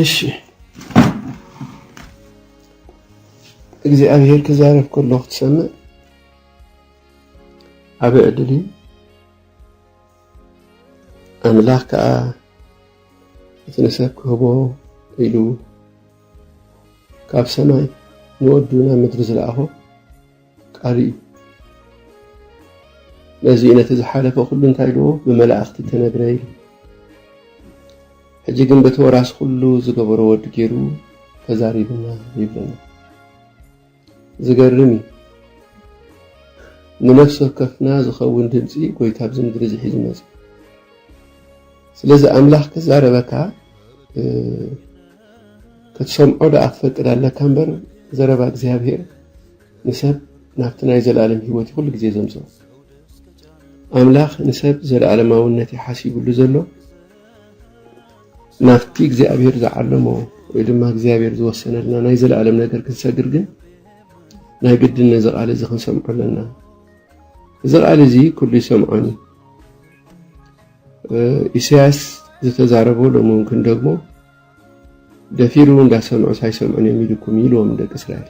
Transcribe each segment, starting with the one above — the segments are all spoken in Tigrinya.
እሺ እግዚኣብሔር ክዛረብ ከሎ ክትሰምዕ ዓበ ዕድል እዩ ኣምላኽ ከዓ እቲ ንሰብ ክህቦ ኢሉ ካብ ሰማይ ንወዱ ናብ ምድሪ ዝለኣኾ ቃሉ እዩ። በዚ እዩ ነቲ ዝሓለፈ ኩሉ እንታይ ዶ ብመላእኽቲ ተነግረ ኢሉ። ሕጂ ግን በቲ ወራሲ ኩሉ ዝገበሮ ወዲ ገይሩ ተዛሪብና ይብለና። ዝገርም እዩ። ንነፍሲ ወከፍና ዝኸውን ድምፂ ጎይታ ኣብዚ ምድሪ እዚ ሒዙ መፅኡ። ስለዚ ኣምላኽ ክዛረበካ ክትሰምዖ ደኣ ክፈቅድ ኣለካ እምበር ዘረባ እግዚኣብሄር ንሰብ ናብቲ ናይ ዘለኣለም ህይወት'ዩ ኩሉ ግዜ ዘምጽኦ። ኣምላኽ ንሰብ ዘለኣለማውነት'ዩ ሓሲቡሉ ዘሎ፣ ናብቲ እግዚኣብሄር ዝዓለሞ ወይ ድማ እግዚኣብሄር ዝወሰነልና ናይ ዘለኣለም ነገር ክንሰግር ግን ናይ ግድን ነዚ ቃል እዚ ክንሰምዖ ኣለና። እዚ ቃል እዚ ኩሉ ይሰምዖን እዩ። ኢሳያስ ዝተዛረቦ ሎሚ እውን ክንደግሞ ደፊሩ እንዳ ሰምዑስ ኣይሰምዑን እዮም ኢሉኩም እዩ ኢልዎም ንደቂ እስራኤል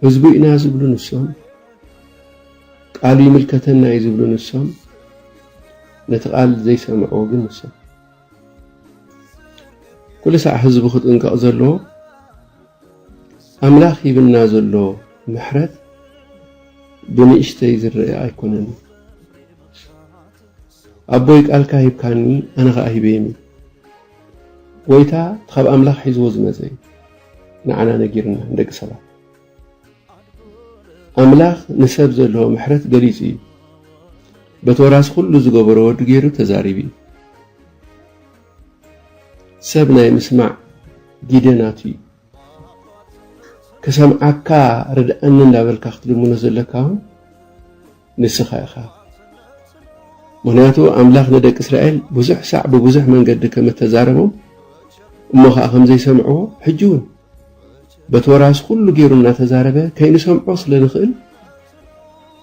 ህዝቡ ኢና ዝብሉ ንሶም ቃሉ ይምልከተና እዩ ዝብሉ ንሶም ነቲ ቃል ዘይሰምዕዎ ግን ንሶም ኩሉ ሳዕ ህዝቡ ክጥንቀቕ ዘለዎ ኣምላኽ ሂብና ዘሎ ምሕረት ብንእሽተይ ዝረአ ኣይኮነን። ኣቦይ ቃልካ ሂብካኒ ኣነ ከኣ ሂበይም እዩ ጎይታ እቲ ካብ ኣምላኽ ሒዝዎ ዝመጸ እዩ ንዓና ነጊርና ንደቂ ሰባት ኣምላኽ ንሰብ ዘለዎ ምሕረት ገሊጹ እዩ በቲ ወራሲ ኩሉ ዝገበሮ ወዱ ገይሩ ተዛሪቡ እዩ ሰብ ናይ ምስማዕ ጊደ ናቱ እዩ ክሰምዓካ ርድኣኒ እንዳበልካ ክትልምኖ ዘለካ እውን ንስኻ ኢኻ። ምኽንያቱ ኣምላኽ ንደቂ እስራኤል ብዙሕ ሳዕ ብብዙሕ መንገዲ ከም እተዛረቦም እሞ ኸኣ ከም ዘይሰምዕዎ ሕጂ እውን በቲ ወራስ ኩሉ ገይሩ እናተዛረበ ከይንሰምዖ ስለ ንኽእል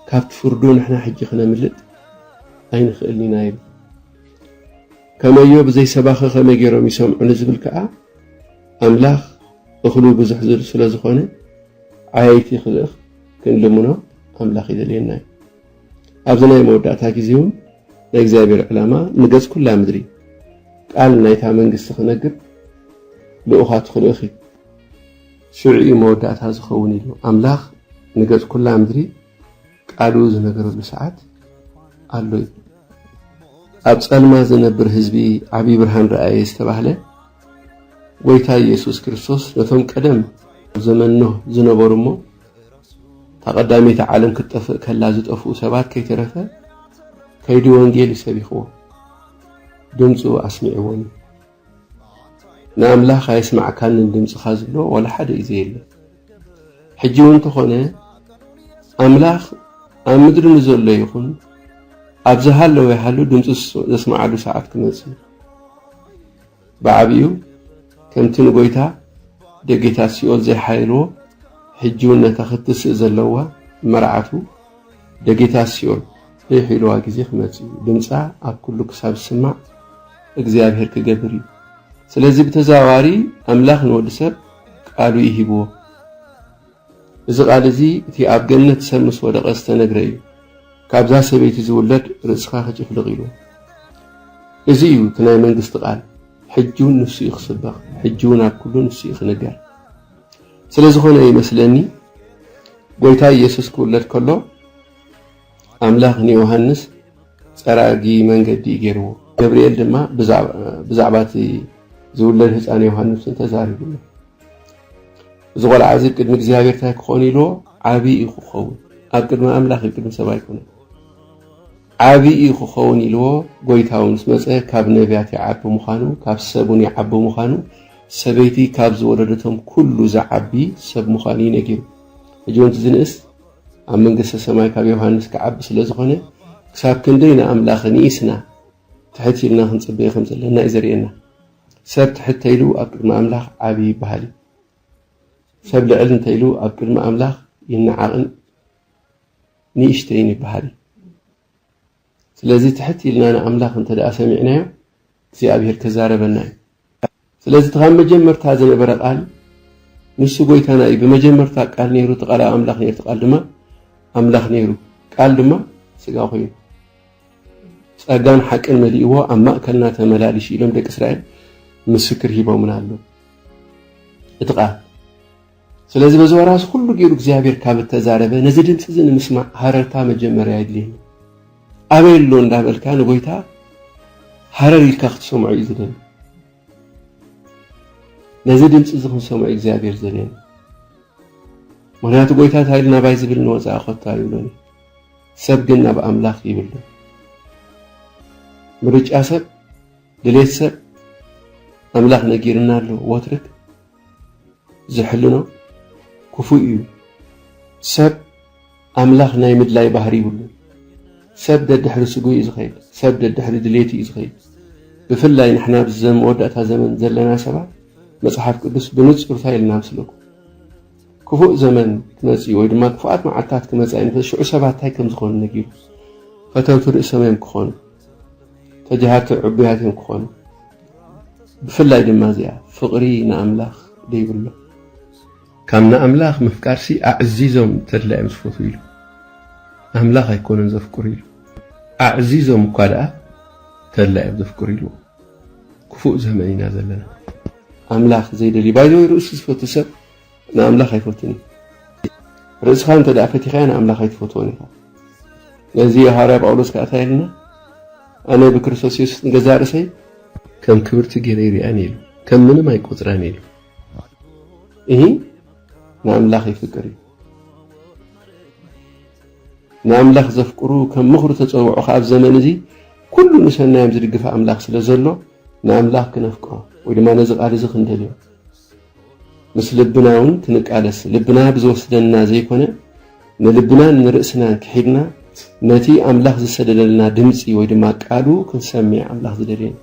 ካብቲ ፍርዱ ንሕና ሕጂ ክነምልጥ ኣይንኽእልን ኢና ይብል። ከመዮ ብዘይሰባኺ ከመይ ገይሮም ይሰምዑ ንዝብል ከኣ ኣምላኽ እኽሉ ብዙሕ ስለ ዝኾነ ዓያይቲ ክልእኽ ክንልምኖ ኣምላኽ ይደልየና እዩ። ኣብዚ ናይ መወዳእታ ግዜ እውን ናይ እግዚኣብሔር ዕላማ ንገጽ ኩላ ምድሪ ቃል ናይታ መንግስቲ ክነግር ልኡኻት ክልእኽ እዩ። ሽዑ እዩ መወዳእታ ዝኸውን ኢሉ ኣምላኽ ንገጽ ኩላ ምድሪ ቃሉ ዝነገረሉ ሰዓት ኣሎ እዩ። ኣብ ጸልማት ዝነብር ህዝቢ ዓብዪ ብርሃን ረኣየ ዝተባህለ ጎይታ ኢየሱስ ክርስቶስ ነቶም ቀደም ኣብ ዘመን ኖህ ዝነበሩ እሞ እታ ቀዳመይቲ ዓለም ክትጠፍእ ከላ ዝጠፍኡ ሰባት ከይተረፈ ከይዲ ወንጌል እዩ ሰቢኽዎም ድምፁ ኣስሚዕዎም እዩ ንኣምላኽ ኣየስማዕካንን ድምፅኻ ዝብሎ ዋላ ሓደ እዩ ዘየለ ሕጂ እውን እንተኾነ ኣምላኽ ኣብ ምድሪ ንዘሎ ይኹን ኣብ ዝሃለወ ይሃሉ ድምፂ ዘስማዓሉ ሰዓት ክመፅእ እዩ ብዓቢኡ ከምቲ ንጎይታ ደጌታት ሲኦል ዘይሓየልዎ ሕጂ ውን ነታ ክትስእ ዘለዋ መርዓቱ ደጌታት ሲኦል ዘይሒልዋ ግዜ ክመጽእ እዩ ድምጻ ኣብ ኩሉ ክሳብ ዝስማዕ እግዚኣብሄር ክገብር እዩ ስለዚ ብተዘዋዋሪ ኣምላኽ ንወዲ ሰብ ቃሉ እዩ ሂብዎ እዚ ቃል እዚ እቲ ኣብ ገነት ሰብ ምስ ወደቐ ዝተነግረ እዩ፣ ካብዛ ሰበይቲ ዝውለድ ርእስኻ ክጭፍልቕ ኢሉ። እዚ እዩ እቲ ናይ መንግስቲ ቃል፣ ሕጂ እውን ንሱ እዩ ክስበኽ፣ ሕጂ እውን ኣብ ኩሉ ንሱ እዩ ክንገር። ስለ ዝኾነ እዩ መስለኒ ጎይታ ኢየሱስ ክውለድ ከሎ ኣምላኽ ንዮሃንስ ጸራጊ መንገዲ እዩ ገይርዎ። ገብርኤል ድማ ብዛዕባ እቲ ዝውለድ ህጻን ዮሃንስ ተዛሪብሉ። እዚ ቆልዓ እዚ ቅድሚ እግዚኣብሔር እንታይ ክኾን ኢልዎ ዓብዪ እዩ ክኸውን ኣብ ቅድሚ ኣምላኽ እዩ ቅድሚ ሰብ ኣይኮነ ዓብዪ እዩ ክኸውን ኢልዎ ጎይታው ምስ መፀ ካብ ነቢያት ይዓቢ ምዃኑ ካብ ሰብ እውን ይዓቢ ምዃኑ ሰበይቲ ካብ ዝወለደቶም ኩሉ ዝዓቢ ሰብ ምዃኑ እዩ ነጊሩ ሕጂ ወንቲ ዝንእስ ኣብ መንግስተ ሰማይ ካብ ዮሃንስ ክዓቢ ስለ ዝኾነ ክሳብ ክንደይ ንኣምላኽ ንኢስና ትሕት ኢልና ክንፅበየ ከም ዘለና እዩ ዘርእየና ሰብ ትሕት ተኢሉ ኣብ ቅድሚ ኣምላኽ ዓቢ ይብሃል እዩ። ሰብ ልዕል እንተኢሉ ኣብ ቅድሚ ኣምላኽ ይነዓቕን ንእሽተይን ይብሃል እዩ። ስለዚ ትሕት ኢልና ንኣምላኽ እንተደኣ ሰሚዕናዮ እግዚኣብሔር ክዛረበና እዩ። ስለዚ እቲ ካብ መጀመርታ ዝነበረ ቃል ንሱ ጎይታና እዩ። ብመጀመርታ ቃል ነይሩ፣ እቲ ቃል ኣብ ኣምላኽ ነይሩ፣ እቲ ቃል ድማ ኣምላኽ ነይሩ፣ ቃል ድማ ስጋ ኮይኑ ጸጋን ሓቅን መሊእዎ ኣብ ማእከልና ተመላሊሽ ኢሎም ደቂ እስራኤል ምስክር ሂቦምና ኣለዉ እቲ ቃል ስለዚ በዚ ወራሲ ኩሉ ገይሩ እግዚኣብሔር ካብ እተዛረበ ነዚ ድምፂ እዚ ንምስማዕ ሃረርታ መጀመርያ የድልየኒ ኣበይ ኣሎ እንዳበልካ ንጎይታ ሃረር ኢልካ ክትሰምዖ እዩ ዝደሊ ነዚ ድምፂ እዚ ክንሰምዖ እግዚኣብሔር ዘድልየኒ ምክንያቱ ጎይታ እንታይ ኢልና ባይ ዝብል ንወፃኢ ኮታ ይብሎኒ ሰብ ግን ናብ ኣምላኽ ይብሉ። ምርጫ ሰብ፣ ድሌት ሰብ፣ ኣምላኽ ነጊርና ኣሎ ወትርክ ዝሕልኖ ክፉእ እዩ። ሰብ ኣምላኽ ናይ ምድላይ ባህሪ ይብሉ። ሰብ ደድሕሪ ስጉ እዩ ዝኸይድ። ሰብ ደድሕሪ ድሌት እዩ ዝኸይድ። ብፍላይ ንሕና ኣብዚ መወዳእታ ዘመን ዘለና ሰባት መጽሓፍ ቅዱስ ብንጹር እንታይ ኢልና ምስለኩም ክፉእ ዘመን ክመጽእ እዩ ወይ ድማ ክፉኣት መዓልትታት ክመጻ እዩ እንተ ሽዑ ሰባት እንታይ ከም ዝኾኑ ነጊሩ ፈተውቲ ርእሶም እዮም ክኾኑ ተጃሃርቲ ዕቡያት እዮም ክኾኑ ብፍላይ ድማ እዚኣ ፍቕሪ ንኣምላኽ ደይብሎ ካብ ንኣምላኽ ምፍቃርሲ ኣዕዚዞም ተድላ እዮም ዝፈትዉ ኢሉ ኣምላኽ ኣይኮነን ዘፍቅሩ ኢሉ ኣዕዚዞም እኳ ደኣ ተድላ እዮም ዘፍቅሩ ኢሉ ክፉእ ዘመን ኢና ዘለና ኣምላኽ ዘይደልዩ ባይዘወይ ርእሱ ዝፈቱ ሰብ ንኣምላኽ ኣይፈቱን እዩ። ርእስኻ እንተ ደኣ ፈቲኻዮ ንኣምላኽ ኣይትፈትዎን ኢኻ። ነዚ እዩ ሃዋርያ ጳውሎስ ከኣ እንታይ ኢሉና? ኣነ ብክርስቶስ የሱስ ንገዛእ ርእሰይ ከም ክብርቲ ገይረ ይርኣን ኢሉ ከም ምንም ኣይቆጽራን ኢሉ እሂ ንኣምላኽ ይፍቅር እዩ። ንኣምላኽ ዘፍቅሩ ከም ምኽሩ ተጸውዑ ከኣ ኣብ ዘመን እዚ ኩሉ ንሰናዮም ዝድግፈ ኣምላኽ ስለ ዘሎ ንኣምላኽ ክነፍቅሮ ወይ ድማ ነዚ ቃል እዚ ክንደልዮ ምስ ልብና ውን ክንቃለስ ልብና ብዝወስደና ዘይኮነ ንልብናን ንርእስናን ክሒድና ነቲ ኣምላኽ ዝሰደደልና ድምጺ ወይ ድማ ቃሉ ክንሰሚዕ ኣምላኽ ዝደልየና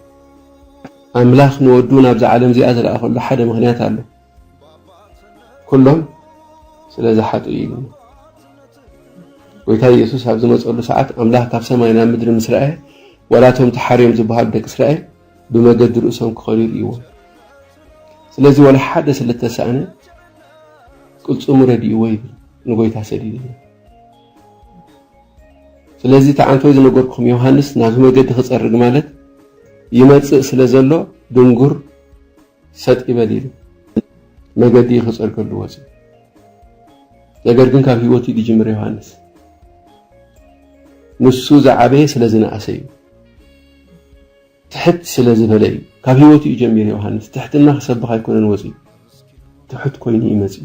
ኣምላኽ ንወዱ ናብዛ ዓለም እዚኣ ዝለኣኸሉ ሓደ ምኽንያት ኣሎ። ኩሎም ስለ ዝሓጡ እዩ ኢሉ ጎይታ ኢየሱስ ኣብ ዝመፀሉ ሰዓት ኣምላኽ ካብ ሰማይ ናብ ምድሪ ምስ ረኣየ ዋላ እቶም ተሓርዮም ዝበሃሉ ደቂ እስራኤል ብመገዲ ርእሶም ክኸዱ ይርእይዎም። ስለዚ ወላ ሓደ ስለ እተሳእነ ቅልጽሙ ረድእዎ ይብል ንጎይታ ሰዲድዎ። ስለዚ እቲ ኣንፈት ዝነገርኩም ዮሃንስ ናብዚ መገዲ ክጸርግ ማለት ይመጽእ ስለ ዘሎ ድንጉር ሰጥ ይበል ኢሉ መገዲ ክጸርገሉ ወጽዩ። ነገር ግን ካብ ህይወት እዩ ዝጅምር ዮሃንስ። ንሱ ዝዓበየ ስለ ዝነኣሰ እዩ፣ ትሕት ስለ ዝበለ እዩ። ካብ ህይወት እዩ ጀሚሩ ዮሃንስ። ትሕትና ክሰብኽ ኣይኮነን ወፅዩ፣ ትሑት ኮይኑ እዩ መፅዩ።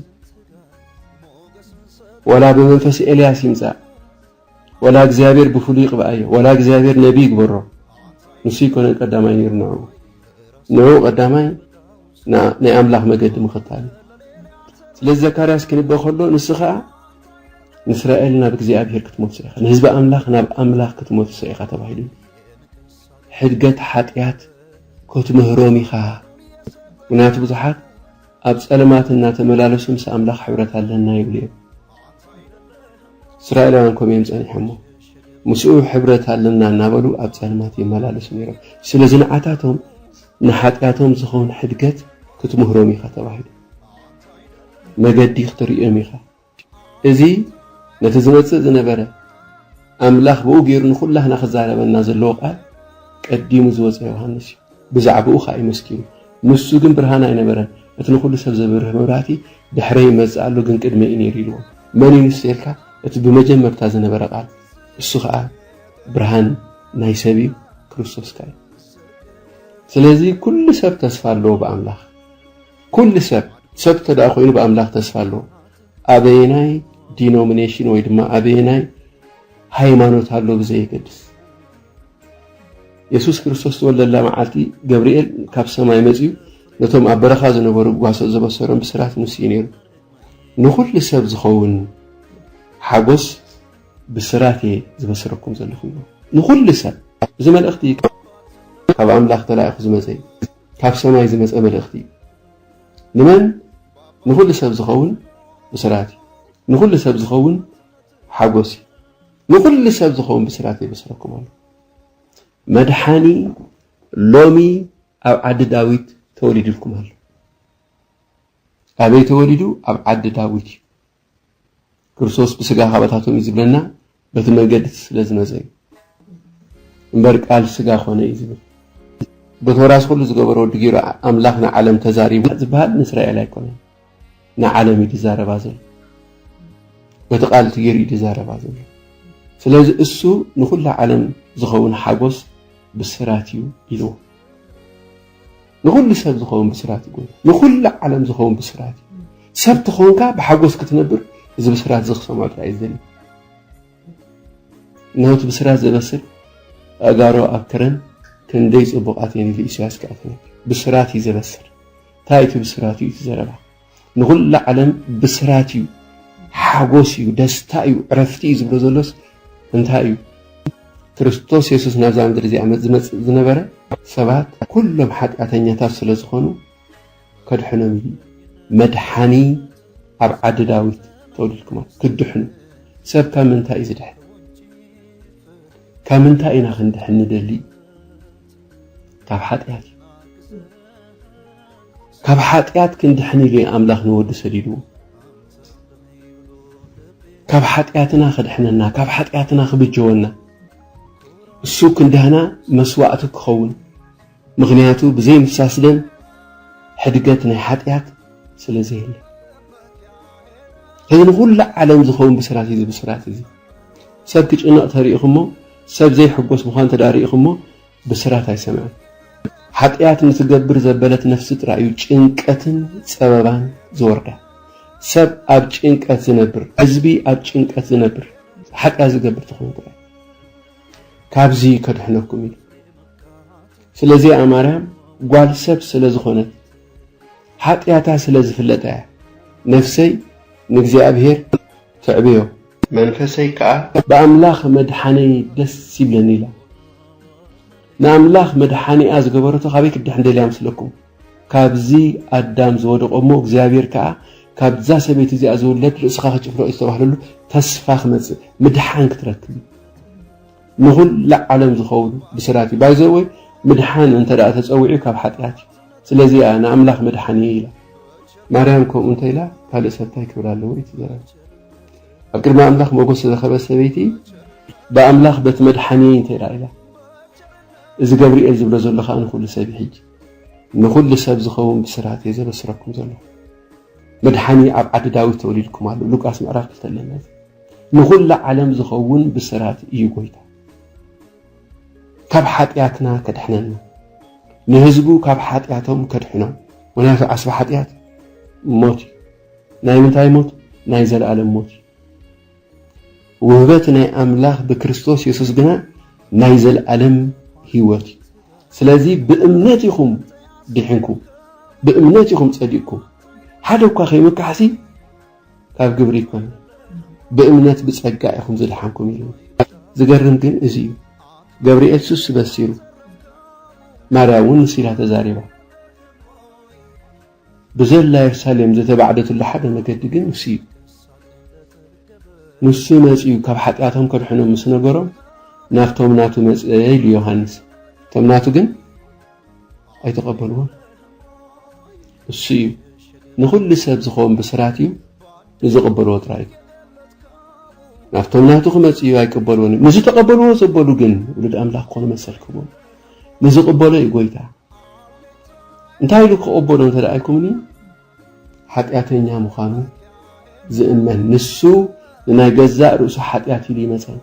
ወላ ብመንፈስ ኤልያስ ይምፃእ ወላ እግዚኣብሔር ብፍሉይ ይቅብኣዮ ወላ እግዚኣብሔር ነቢ ይግበሮ ንሱ ይኮነን ቀዳማይ ነይሩ ንዑ ንዑ ቀዳማይ ናይ ኣምላኽ መገዲ ምኽታል እዩ ስለዚ ዘካርያስ ክንበ ከሎ ንሱ ከዓ ንእስራኤል ናብ እግዚኣብሔር ክትመልሶ ኢኻ ንህዝቢ ኣምላኽ ናብ ኣምላኽ ክትመልሶ ኢኻ ተባሂሉ ሕድገት ሓጢኣት ክትምህሮም ኢኻ ምክንያቱ ብዙሓት ኣብ ፀለማት እናተመላለሱ ምስ ኣምላኽ ሕብረት ኣለና ይብሉ እዮም እስራኤላውያን ከምኡ እዮም ጸኒሖሞ ምስኡ ሕብረት ኣለና እናበሉ ኣብ ጸልማት ይመላለሱ ነይሮም ስለ ዝንዓታቶም ንሓጢኣቶም ዝኸውን ሕድገት ክትምህሮም ኢኻ ተባሂሉ መገዲ ክትርእዮም ኢኻ እዚ ነቲ ዝመጽእ ዝነበረ ኣምላኽ ብኡ ገይሩ ንኹላህና ክዛረበና ዘለዎ ቃል ቀዲሙ ዝወፀ ዮሃንስ እዩ ብዛዕባኡ ኸኣ እዩ መስኪሩ። ንሱ ግን ብርሃን ኣይነበረን፣ እቲ ንዅሉ ሰብ ዘብርህ መብራህቲ ድሕረይ ይመጽእ ኣሎ፣ ግን ቅድመይ እዩ ነይሩ ኢልዎም። መን እዩ ንሱ ኢልካ? እቲ ብመጀመርታ ዝነበረ ቓል፣ እሱ ኸኣ ብርሃን ናይ ሰብ እዩ፣ ክርስቶስ ከኣ እዩ። ስለዚ፣ ኵሉ ሰብ ተስፋ ኣለዎ ብኣምላኽ። ኵሉ ሰብ! ሰብ እንተ ደኣ ኰይኑ ብኣምላኽ ተስፋ ኣለዎ። ኣበየናይ ዲኖሚነሽን ወይ ድማ ኣበየናይ ሃይማኖት ኣሎ ብዘየገድስ። የሱስ ክርስቶስ ዝተወልደላ መዓልቲ ገብርኤል ካብ ሰማይ መጺኡ ነቶም ኣብ በረኻ ዝነበሩ ጓሶ ዘበሰሮም ብስራት ንሱ እዩ ነይሩ። ንኹሉ ሰብ ዝኸውን ሓጎስ ብስራት እየ ዝበስረኩም ዘለኹ ይብሎ። ንኹሉ ሰብ እዚ መልእኽቲ ካብ ኣምላኽ ተላኢኹ ዝመፀ እዩ። ካብ ሰማይ ዝመፀ መልእኽቲ እዩ። ንመን? ንኹሉ ሰብ ዝኸውን ብስራት እዩ። ንኹሉ ሰብ ዝኸውን ሓጎስ እዩ። ንኹሉ ሰብ ዝኸውን ብስራት የበስረኩም ኣሎ መድሓኒ ሎሚ ኣብ ዓዲ ዳዊት ተወሊድልኩም ኣሎ ኣበይ ተወሊዱ ኣብ ዓዲ ዳዊት እዩ ክርስቶስ ብስጋ ካባታቶም እዩ ዝብለና በቲ መንገዲ ስለ ዝመፀ እዩ እምበር ቃል ስጋ ኮነ እዩ ዝብል በተወራስ ኩሉ ዝገበረ ወዲ ገይሩ ኣምላኽ ንዓለም ተዛሪቡ ዝበሃል ንእስራኤል ኣይኮነን ንዓለም እዩ ዝዛረባ ዘሎ በቲ ቃል እቲ ገይሩ እዩ ዝዛረባ ዘሎ ስለዚ እሱ ንኩላ ዓለም ዝኸውን ሓጎስ ብስራት እዩ ኢልዎ ንኩሉ ሰብ ዝኸውን ብስራት እዩ ንኩሉ ዓለም ዝኸውን ብስራት እዩ ሰብ ተኾንካ ብሓጎስ ክትነብር እዚ ብስራት እዚ ክሰምዖ ጥራይ እዩ ዝደሊ እነሆቲ ብስራት ዘበስር ኣእጋሮ ኣብ ከረን ክንደይ ፅቡቃት እየን ኢሉ ኢሳያስ ክኣ ብስራት እዩ ዘበስር ታይ እቲ ብስራት እዩ እቲ ዘረባ ንኩላ ዓለም ብስራት እዩ ሓጎስ እዩ ደስታ እዩ ዕረፍቲ እዩ ዝብሎ ዘሎስ እንታይ እዩ ክርስቶስ የሱስ ናብዛ ምድሪ እዚኣ ዝመፅእ ዝነበረ ሰባት ኩሎም ሓጢኣተኛታት ስለ ዝኾኑ ከድሕኖም እዩ መድሓኒ ኣብ ዓዲ ዳዊት ተወሊድኩም ክድሕኑ ሰብ ካብ ምንታይ እዩ ዝድሕን ካብ ምንታይ ኢና ክንድሕን ንደሊ ካብ ሓጢኣት እዩ ካብ ሓጢኣት ክንድሕን ኢሉ ኣምላኽ ንወዱ ሰዲድዎ ካብ ሓጢኣትና ክድሕነና ካብ ሓጢኣትና ክብጀወና እሱ ክንዳህና መስዋእቲ ክኸውን ምክንያቱ ብዘይ ምፍሳስ ደም ሕድገት ናይ ሓጢኣት ስለ ዘየለ እዚ ንኩሉ ዓለም ዝኸውን ብስራት እዩ ብስራት እዚ ሰብ ክጭነቕ ተሪኢኹሞ ሰብ ዘይሕጎስ ምዃኑ እንተድኣ ርኢኹሞ ብስራት ኣይሰምዐን። ሓጥያት ንትገብር ዘበለት ነፍሲ ጥራይ እዩ ጭንቀትን ጸበባን ዝወርዳ። ሰብ ኣብ ጭንቀት ዝነብር፣ ሕዝቢ ኣብ ጭንቀት ዝነብር ሓጥያት ዝገብር ተኾይኑ ጥራይ እዩ። ካብዚ ከድሕነኩም ኢሉ ስለዚኣ ማርያም ጓል ሰብ ስለ ዝኾነት ሓጥያታ ስለ ዝፍለጣ እያ ነፍሰይ ንእግዚኣብሔር ተዕብዮ። መንፈሰይ ከኣ ብኣምላኽ መድሓኒይ ደስ ይብለኒ ኢላ ንኣምላኽ መድሓኒኣ ዝገበረቶ ካበይ ክትድሕን ደልያ መስለኩም ካብዚ ኣዳም ዝወደቆ እሞ እግዚኣብሔር ከኣ ካብዛ ሰበይቲ እዚኣ ዝውለድ ርእስኻ ክጭፍልቕ እዩ ዝተባህለሉ ተስፋ ክመጽእ ምድሓን ክትረክብ እዩ ንኹላ ዓለም ዝኸውን ብስራት እዩ ባይዘወይ ምድሓን እንተ ደኣ ተጸዊዑ ካብ ሓጢኣት እዩ ስለዚ እያ ንኣምላኽ መድሓኒይ ኢላ ማርያም ከምኡ እንተ ኢላ ካልእ ሰብ እንታይ ክብል ኣለዎ እዩ ትዘረብ ኣብ ቅድሚ ኣምላኽ ሞገስ ዝረኸበት ሰበይቲ ብኣምላኽ በቲ መድሓኒየይ እንተ ኢላ እዚ ገብርኤል ዝብሎ ዘሎ ከዓ ንኩሉ ሰብ ሕጂ ንኩሉ ሰብ ዝኸውን ብስራት እየ ዘበስረኩም ዘለኹ መድሓኒ ኣብ ዓዲ ዳዊት ተወሊድኩም ኣሎ ሉቃስ ምዕራፍ ክልተ ኣለና ንኩሉ ዓለም ዝኸውን ብስራት እዩ ጎይታ ካብ ሓጢኣትና ከድሕነና ንህዝቡ ካብ ሓጢኣቶም ከድሕኖም ምክንያቱ ዓስቢ ሓጢኣት ሞት እዩ ናይ ምንታይ ሞት? ናይ ዘለኣለም ሞት እዩ። ውህበት ናይ ኣምላኽ ብክርስቶስ የሱስ ግና ናይ ዘለኣለም ህይወት እዩ። ስለዚ ብእምነት ኢኹም ዲሕንኩም፣ ብእምነት ኢኹም ጸዲቅኩም። ሓደ እኳ ከይምካሕሲ ካብ ግብሪ ይኮነ ብእምነት ብጸጋ ኢኹም ዝደሓንኩም ኢሉ ዝገርም ግን እዚ እዩ ገብርኤል ሱስ በሲሩ ማርያም እውን ንሲላ ተዛሪባ ብዘላ የርሳሌም ዘተባዕደትሉ ሓደ መገዲ ግን እሱ እዩ። ንሱ መጺኡ ካብ ሓጢኣቶም ከድሕኖም ምስ ነገሮም ናብቶም ናቱ መጸ ኢሉ ዮሃንስ። እቶም ናቱ ግን ኣይተቐበልዎን። እሱ እዩ ንኹሉ ሰብ ዝኸውን ብስራት እዩ ንዝቕበልዎ ጥራይ እዩ ናብቶም ናቱ ክመጽእ እዩ ኣይቅበልዎን እዩ ንዝተቐበልዎ ዘበሉ ግን ውሉድ ኣምላኽ ክኾኑ መሰል ክህቦም ንዝቕበሎ እዩ ጎይታ እንታይ ኢሉ ክቕበሎ እንተ ኢልኩምኒ ሓጢኣተኛ ምዃኑ ዝእመን ንሱ ንናይ ገዛእ ርእሱ ሓጢኣት ኢሉ ይመፀን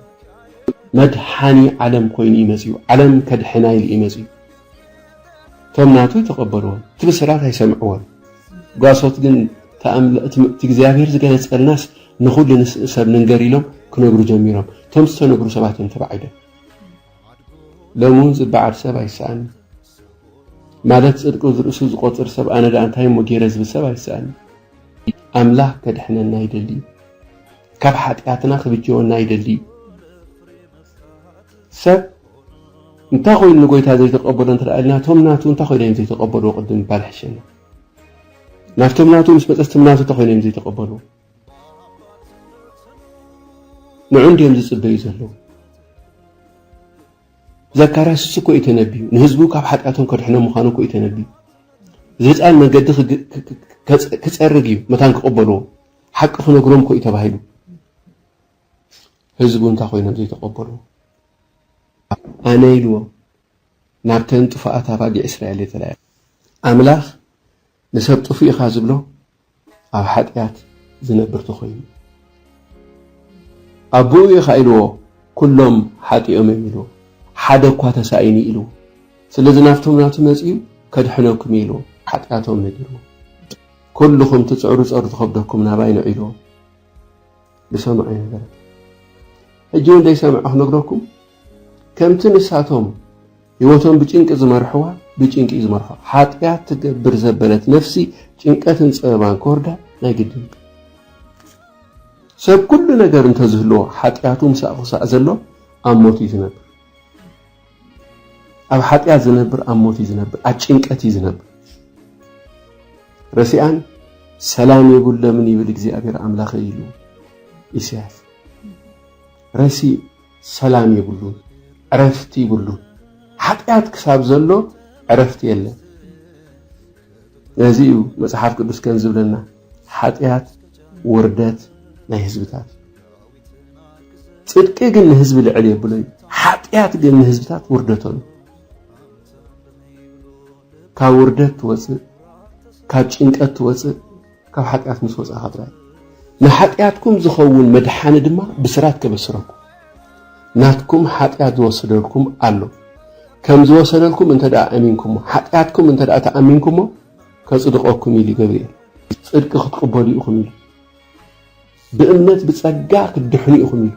መድሓኒ ዓለም ኮይኑ እዩ መፅኡ ዓለም ከድሕና ኢሉ እዩ መፅኡ እቶም ናቱ ተቐበልዎ እቲ ብስራት ኣይሰምዕዎን ጓሶት ግን እቲ እግዚኣብሔር ዝገለፀልናስ ንኹሉ ሰብ ንንገር ኢሎም ክነግሩ ጀሚሮም እቶም ዝተነግሩ ሰባት እዮም ተባዒዶም ሎሚ እውን ዝበዓል ሰብ ኣይሰኣንን ማለት ጽድቁ ዝርእሱ ዝቆጽር ሰብ ኣነ ደኣ እንታይ እሞ ጌረ ዝብል ሰብ ኣይሰኣንን። ኣምላኽ ከድሕነና ይደሊ እዩ። ካብ ሓጢኣትና ክብጀወና ይደሊ እዩ። ሰብ እንታይ ኮይኑ ንጎይታ ዘይተቀበሎ እንተ ኢልና እቶም ናቱ እንታይ ኮይኖም እዮም ዘይተቀበልዎ ቅድም ምባል ይሕሸና ናብቶም ናቱ ምስ መጸስቶም ናቱ እንታይ ኮይኖም እዮም ዘይተቀበልዎ ንዑ እንድዮም ዝጽበዩ ዘለዉ። ዘካርያስ እሱ እኮ እዩ ተነቢዩ ንህዝቡ ካብ ሓጢኣቶም ከድሕኖ ምዃኑ እኮ እዩ ተነቢዩ እዚ ህፃን መንገዲ ክፀርግ እዩ መታን ክቕበልዎ ሓቂ ክነግሮም እኮ እዩ ተባሂሉ ህዝቡ እንታይ ኮይኖም ዘይተቐበልዎ ኣነ ኢልዎ ናብተን ጥፉኣት ኣባጊዕ እስራኤል የተላያ ኣምላኽ ንሰብ ጥፉእ ኢኻ ዝብሎ ኣብ ሓጥያት ዝነብር ተኾይኑ ኣቦኡ ኢኻ ኢልዎ ኩሎም ሓጢኦም እዮም ኢልዎ ሓደ እኳ ተሳኢኒ ኢልዎ ስለዚ ናብቶም ናቱ መጺኡ ከድሕነኩም እዩ ኢልዎ ሓጢያቶም ነጊርዎ ኩልኹም ትጽዕሩ ጸሩ ትኸብደኩም ናባይ ንዑ ኢልዎ ዝሰምዖ ኣይነበረን። ሕጂ እውን ዘይሰምዐ ክነግረኩም ከምቲ ንሳቶም ህይወቶም ብጭንቂ ዝመርሕዋ ብጭንቂ እዩ ዝመርሖ ሓጢኣት ትገብር ዘበለት ነፍሲ ጭንቀትን ፀበባን ክወርዳ ናይ ግድን ሰብ ኩሉ ነገር እንተዝህልዎ ሓጢኣቱ ምሳእ ክሳእ ዘሎ ኣብ ሞት እዩ ዝነብር ኣብ ሓጢኣት ዝነብር ኣብ ሞት እዩ ዝነብር፣ ኣብ ጭንቀት እዩ ዝነብር። ረሲኣን ሰላም የብሎምን ይብል እግዚኣብሔር ኣምላኸ ኢሉ ኢሳያስ ረሲ ሰላም የብሉ ዕረፍቲ ይብሉ ሓጢኣት ክሳብ ዘሎ ዕረፍቲ የለን ነዚ እዩ መፅሓፍ ቅዱስ ከም ዝብለና ሓጢኣት ውርደት ናይ ህዝብታት ጽድቂ ግን ንህዝቢ ልዕል የብሎ እዩ፣ ሓጢኣት ግን ንህዝብታት ውርደቶ እዩ። ካብ ውርደት ትወፅእ ካብ ጭንቀት ትወፅእ ካብ ሓጢኣት ምስ ወፃእኻ ጥራይ ንሓጢኣትኩም ዝኸውን መድሓኒ ድማ ብስራት ከበስረኩም ናትኩም ሓጢኣት ዝወሰደልኩም ኣሎ ከም ዝወሰደልኩም እንተ ደኣ ኣሚንኩሞ ሓጢኣትኩም እንተ ደኣ ተኣሚንኩሞ ከጽድቐኩም ኢሉ ገብርኤል ጽድቂ ክትቅበሉ ኢኹም ኢሉ ብእምነት ብጸጋ ክትድሕኑ ኢኹም ኢሉ።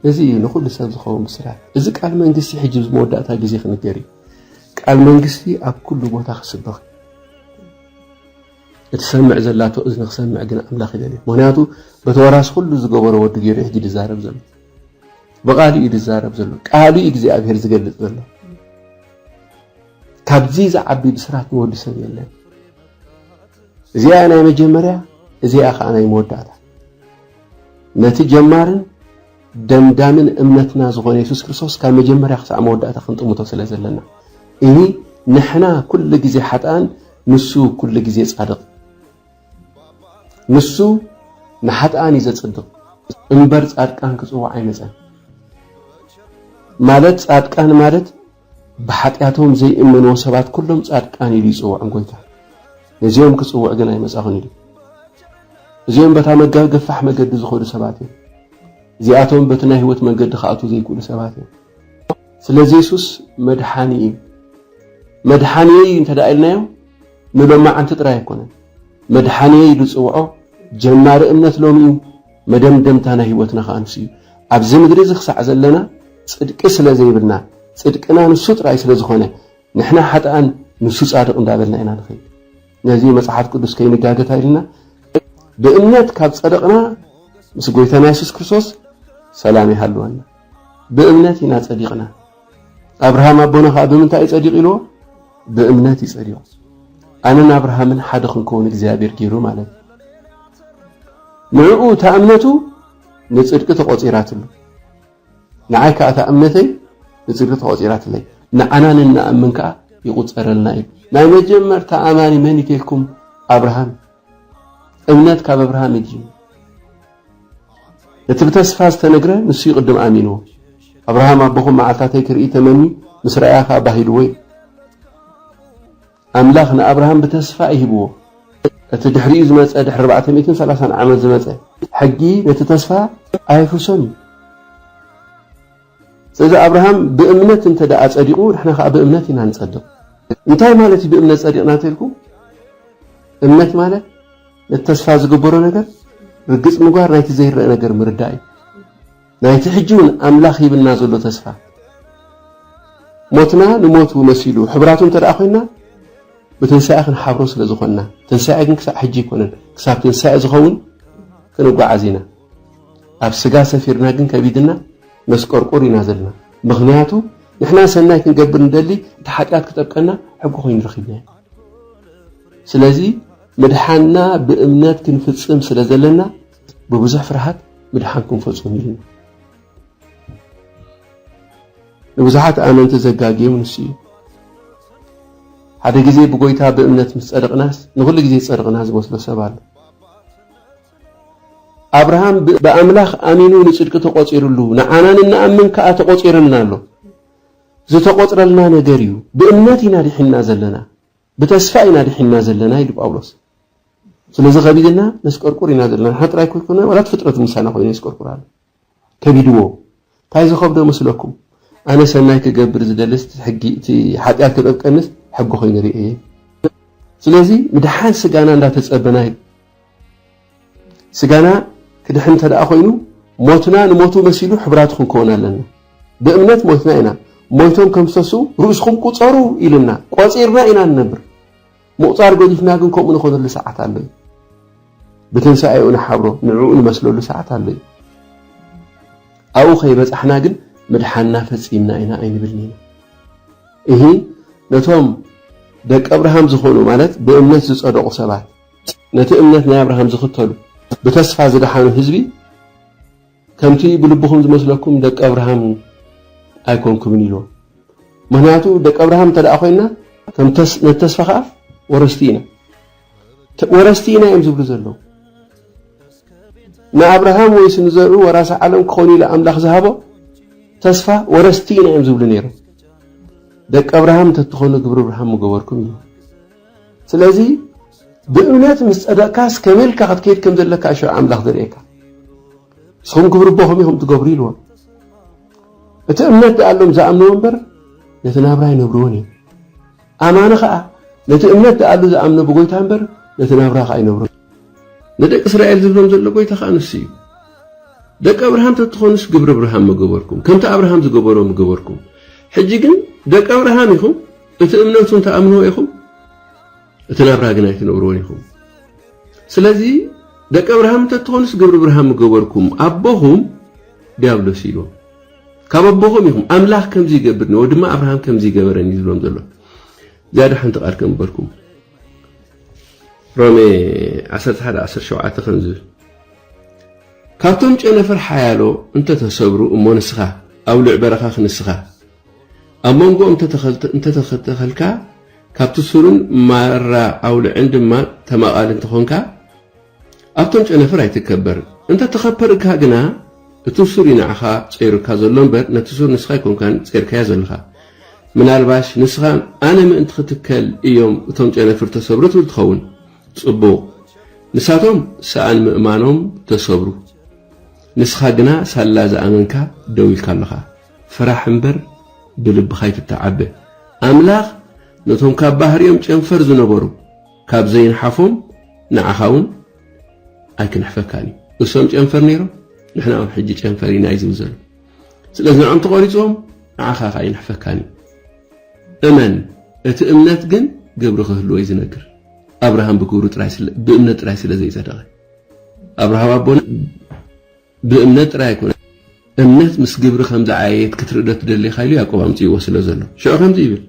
እዚ እዩ ንኹሉ ሰብ ዝኸውን ብስራት። እዚ ቃል መንግስቲ ሕጂ ኣብዚ መወዳእታ ግዜ ክንገር እዩ። ቃል መንግስቲ ኣብ ኩሉ ቦታ ክስበኽ እቲ ሰምዕ ዘላቶ እዝኒ ክሰምዕ ግን ኣምላኽ ይደልዩ ምክንያቱ በተወራስ ኩሉ ዝገበሮ ወዲ ገይሩ ሕጂ ድዛረብ ዘሎ ብቃሉ እዩ ድዛረብ ዘሎ ቃሉ እዩ እግዚኣብሔር ዝገልፅ ዘሎ ካብዚ ዝዓቢ ብስራት ንወዲ ሰብ የለን እዚኣ ናይ መጀመርያ እዚኣ ከኣ ናይ መወዳእታ ነቲ ጀማርን ደምዳምን እምነትና ዝኾነ የሱስ ክርስቶስ ካብ መጀመርያ ክሳዕ መወዳእታ ክንጥምቶ ስለ ዘለና እሂ ንሕና ኩሉ ግዜ ሓጥኣን ንሱ ኩሉ ግዜ ጻድቕ ንሱ ንሓጥኣን እዩ ዘጽድቕ እምበር ጻድቃን ክጽውዕ ኣይመጸን ማለት ጻድቃን ማለት ብሓጢኣቶም ዘይእመንዎ ሰባት ኩሎም ጻድቃን ኢሉ ይጽውዖም ጎይታ። ነዚኦም ክጽውዕ ግን ኣይመጻኹን ኢሉ። እዚኦም በታ መጋብ ገፋሕ መገዲ ዝኸዱ ሰባት እዮም። እዚኣቶም በቲ ናይ ህይወት መንገዲ ክኣትዉ ዘይክእሉ ሰባት እዮም። ስለዚ የሱስ መድሓኒ እዩ። መድሓኒየይ እዩ እንተ ኢልናዮ ንሎማዓንቲ ጥራይ ኣይኮነን። መድሓኒየይ ኢሉ ዝጽውዖ ጀማሪ እምነት ሎሚ እዩ። መደምደምታ ናይ ህይወትና ከኣ ንሱ እዩ። ኣብዚ ምድሪ እዚ ክሳዕ ዘለና ጽድቂ ስለ ዘይብልና ጽድቅና ንሱ ጥራይ ስለ ዝኾነ ንሕና ሓጥኣን ንሱ ጻድቕ እንዳበልና ኢና ንኸይድ። ነዚ መጽሓፍ ቅዱስ ከይንጋገ እንታይ ኢልና ብእምነት ካብ ጸደቕና ምስ ጎይታና የሱስ ክርስቶስ ሰላም ይሃልወና። ብእምነት ኢና ጸዲቕና። ኣብርሃም ኣቦና ከዓ ብምንታይ እዩ ጸዲቕ ኢልዎ? ብእምነት እዩ ጸዲቑ። ኣነን ኣብርሃምን ሓደ ክንከውን እግዚኣብሔር ገይሩ ማለት ንዕኡ እታ እምነቱ ንጽድቂ ተቖጺራትሉ ንዓይ ከዓ እታ እምነተይ ንጽድቂ ተቖጺራትለይ ንዓና ንንኣምን ከዓ ይቑጸረልና እዩ ናይ መጀመርታ ኣማኒ መን እዩ ተልኩም ኣብርሃም እምነት ካብ ኣብርሃም ይጅምር። እቲ ብተስፋ ዝተነግረ ንሱ ይቕድም ኣሚንዎ። ኣብርሃም ኣቦኹም መዓልታተይ ክርኢ ተመኒ ምስ ረኣያ ከዓ ባሂልዎ እዩ። ኣምላኽ ንኣብርሃም ብተስፋ እዩ ሂብዎ። እቲ ድሕሪኡ ዝመፀ ድሕሪ 430 ዓመት ዝመፀ ሕጊ ነቲ ተስፋ ኣየፍርሶን እዩ። ስለዚ ኣብርሃም ብእምነት እንተ ደኣ ጸዲቑ ንሕና ከኣ ብእምነት ኢና ንጸድቕ። እንታይ ማለት እዩ ብእምነት ጸዲቕና እንተልኩ እምነት ማለት ነቲ ተስፋ ዝግበሮ ነገር ርግጽ ምግባር ናይቲ ዘይረአ ነገር ምርዳእ እዩ ናይቲ ሕጂ እውን ኣምላኽ ሂብና ዘሎ ተስፋ ሞትና ንሞቱ መሲሉ ሕብራቱ እንተ ደኣ ኮይንና ብትንሳኤ ክንሓብሮ ስለ ዝኾንና ትንሳኤ ግን ክሳዕ ሕጂ ኣይኮነን ክሳብ ትንሳኤ ዝኸውን ክንጓዓዝ ኢና ኣብ ስጋ ሰፊርና ግን ከቢድና መስቆርቁር ኢና ዘለና ምኽንያቱ ንሕና ሰናይ ክንገብር ንደሊ እቲ ሓጢኣት ክጠብቀና ሕጊ ኮይኑ ረኺብናዮ ስለዚ ምድሓንና ብእምነት ክንፍጽም ስለ ዘለና ብብዙሕ ፍርሃት ምድሓን ክንፈጹም ኢልና ንብዙሓት ኣመንቲ ዘጋግዮም ንሱ እዩ ሓደ ግዜ ብጎይታ ብእምነት ምስ ጸድቕናስ ንኹሉ ግዜ ጸድቕና ዝመስሎ ሰብ ኣሎ ኣብርሃም ብኣምላኽ ኣሚኑ ንጽድቂ ተቖጺርሉ፣ ንዓና ንንኣምን ከኣ ተቖጺርልና ኣሎ። ዝተቖጽረልና ነገር እዩ። ብእምነት ኢና ድሒንና ዘለና፣ ብተስፋ ኢና ድሒንና ዘለና ኢሉ ጳውሎስ። ስለዚ ከቢድና ነስቀርቁር ኢና ዘለና፣ ንሕና ጥራይ ከይኮነ ዋላ እቲ ፍጥረት ምሳና ኮይኑ የስቀርቁር ኣሎ። ከቢድዎ ታይ ዝኸብዶ መስለኩም ኣነ ሰናይ ክገብር ዝደልስ ሕጊ እቲ ሓጥያት ክጠብቀንስ ሕጊ ኮይኑ ሪኤየ ስለዚ ምድሓን ስጋና እንዳተጸበና እዩ ስጋና ክድሕን እንተደኣ ኮይኑ ሞትና ንሞቱ መሲሉ ሕብራቱ ክንከውን ኣለና ብእምነት ሞትና ኢና ሞይቶም ከምሰሱ ርእስኹም ቁጸሩ ኢልና ቆጺርና ኢና ንነብር ምቑጻር ገዲፍና ግን ከምኡ ንኾነሉ ሰዓት ኣሎ እዩ። ብትንሳኤኡ ንሓብሮ፣ ንዕኡ ንመስለሉ ሰዓት ኣሎ እዩ። ኣብኡ ከይበጻሕና ግን ምድሓንና ፈጺምና ኢና ኣይንብልን ኢና። እሂ ነቶም ደቂ ኣብርሃም ዝኾኑ ማለት ብእምነት ዝጸደቑ ሰባት፣ ነቲ እምነት ናይ ኣብርሃም ዝኽተሉ ብተስፋ ዝደሓኑ ህዝቢ ከምቲ ብልብኹም ዝመስለኩም ደቂ ኣብርሃም ኣይኮንኩምን ኢልዎም። ምኽንያቱ ደቂ ኣብርሃም እንተ ኮይና ነቲ ተስፋ ከዓ ወረስቲ ኢና ወረስቲ ኢና እዮም ዝብሉ ዘለዉ። ንኣብርሃም ወይስ ንዘርኡ ወራሲ ዓለም ክኾኑ ኢሉ ኣምላኽ ዝሃቦ ተስፋ ወረስቲ ኢና እዮም ዝብሉ ነይሮም። ደቂ ኣብርሃም እንተትኾኑ ግብሪ ኣብርሃም ምገበርኩም እዩ። ስለዚ ብእምነት ምስ ጸደቕካስ ከመይ ኢልካ ክትከይድ ከም ዘለካ ሽዑ ኣምላኽ ዘርእየካ ንስኹም ግብሪ ቦኹም ኢኹም ትገብሩ ኢልዎም እቲ እምነት ደኣሎም ዝኣምንዎ እምበር ነቲ ናብራ ይነብርዎን እዮም ኣማኒ ከዓ ነቲ እምነት ደኣሉ ዝኣምነ ብጎይታ እምበር ነቲ ናብራ ከዓ ይነብሮ ንደቂ እስራኤል ዝብሎም ዘሎ ጎይታ ከዓ ንሱ እዩ ደቂ ኣብርሃም ተትኾኑስ ግብሪ ኣብርሃም ምገበርኩም ከምቲ ኣብርሃም ዝገበሮ ምገበርኩም ሕጂ ግን ደቂ ኣብርሃም ኢኹም እቲ እምነቱ እንተ ኣምንዎ ኢኹም እቲ ናብራ ግን ኣይትነብርዎን ኢኹም ስለዚ ደቀ ኣብርሃም እንተ ትኾኑስ ግብሪ ብርሃን ምገበርኩም ኣቦኹም ዲያብሎስ ኢሉ ካብ ኣቦኹም ኢኹም ኣምላኽ ከምዚ ይገብር ነዎ ድማ ኣብርሃም ከምዚ ይገበረን እዩ ዝብሎም ዘሎ ዝያዳ ሓንቲ ቃል ከምበልኩም ሮሜ 11 17 ከምዚ ካብቶም ጨነፈር ሓያሎ እንተተሰብሩ እሞ ንስኻ ኣብ ልዕ በረኻ ክንስኻ ኣብ መንጎ እንተተተኸልካ ካብቲ ሱርን ማራ ኣውልዕን ድማ ተማቓሊ እንተኾንካ ኣብቶም ጨነፍር ኣይትከበርን። እንተተኸፐርካ ግና እቲ ሱር እዩ ንዓኻ ጸይሩካ ዘሎ እምበር ነቲ ሱር ንስኻ ኣይኮንካን ጸይርካዮ ዘለኻ። ምናልባሽ ንስኻ ኣነ ምእንቲ ክትከል እዮም እቶም ጨነፍር ተሰብሩ ትብል ትኸውን። ጽቡቕ! ንሳቶም ሰኣን ምእማኖም ተሰብሩ። ንስኻ ግና ሳላ ዝኣመንካ ደው ኢልካ ኣለኻ። ፍራሕ እምበር ብልብኻ ኣይትተዓበ። ኣምላኽ ነቶም ካብ ባህርዮም ጨንፈር ዝነበሩ ካብ ዘይንሓፎም ንዓኻ እውን ኣይክንሕፈካን እዩ። እሶም ጨንፈር ነይሮም ንሕና እውን ሕጂ ጨንፈር ኢና እዩ ዝብል ዘሎ። ስለዚ ንዕኦም ተቖሪጾም ንዓኻ ከ ኣይንሕፈካን እዩ። እመን እቲ እምነት ግን ግብሪ ክህልዎ እዩ ዝነግር። ኣብርሃም ብግብሩ ጥራይ ብእምነት ጥራይ ስለ ዘይጸደቐ ኣብርሃም ኣቦና ብእምነት ጥራይ ኣይኮነን እምነት ምስ ግብሪ ከም ዝዓየየት ክትርኢ ዶ ትደሊ ኢኻ ኢሉ ያእቆብ ኣምጺእዎ ስለ ዘሎ ሽዑ ከምዚ ይብል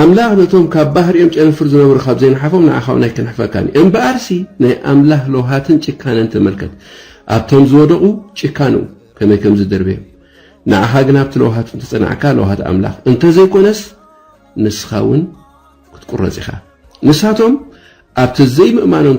ኣምላኽ ነቶም ካብ ባህሪኦም ጨንፍር ዝነብሩ ካብ ዘይንሓፎም ንዓኻ እውን ኣይክንሕፈካን እዩ እምበኣርሲ ናይ ኣምላኽ ለውሃትን ጭካነን ተመልከት ኣብቶም ዝወደቑ ጭካንኡ ከመይ ከም ዝድርብዮም ንዓኻ ግን ኣብቲ ለውሃት እንተጸናዕካ ለውሃት ኣምላኽ እንተዘይኮነስ ንስኻ እውን ክትቁረጽ ኢኻ ንሳቶም ኣብቲ ዘይምእማኖም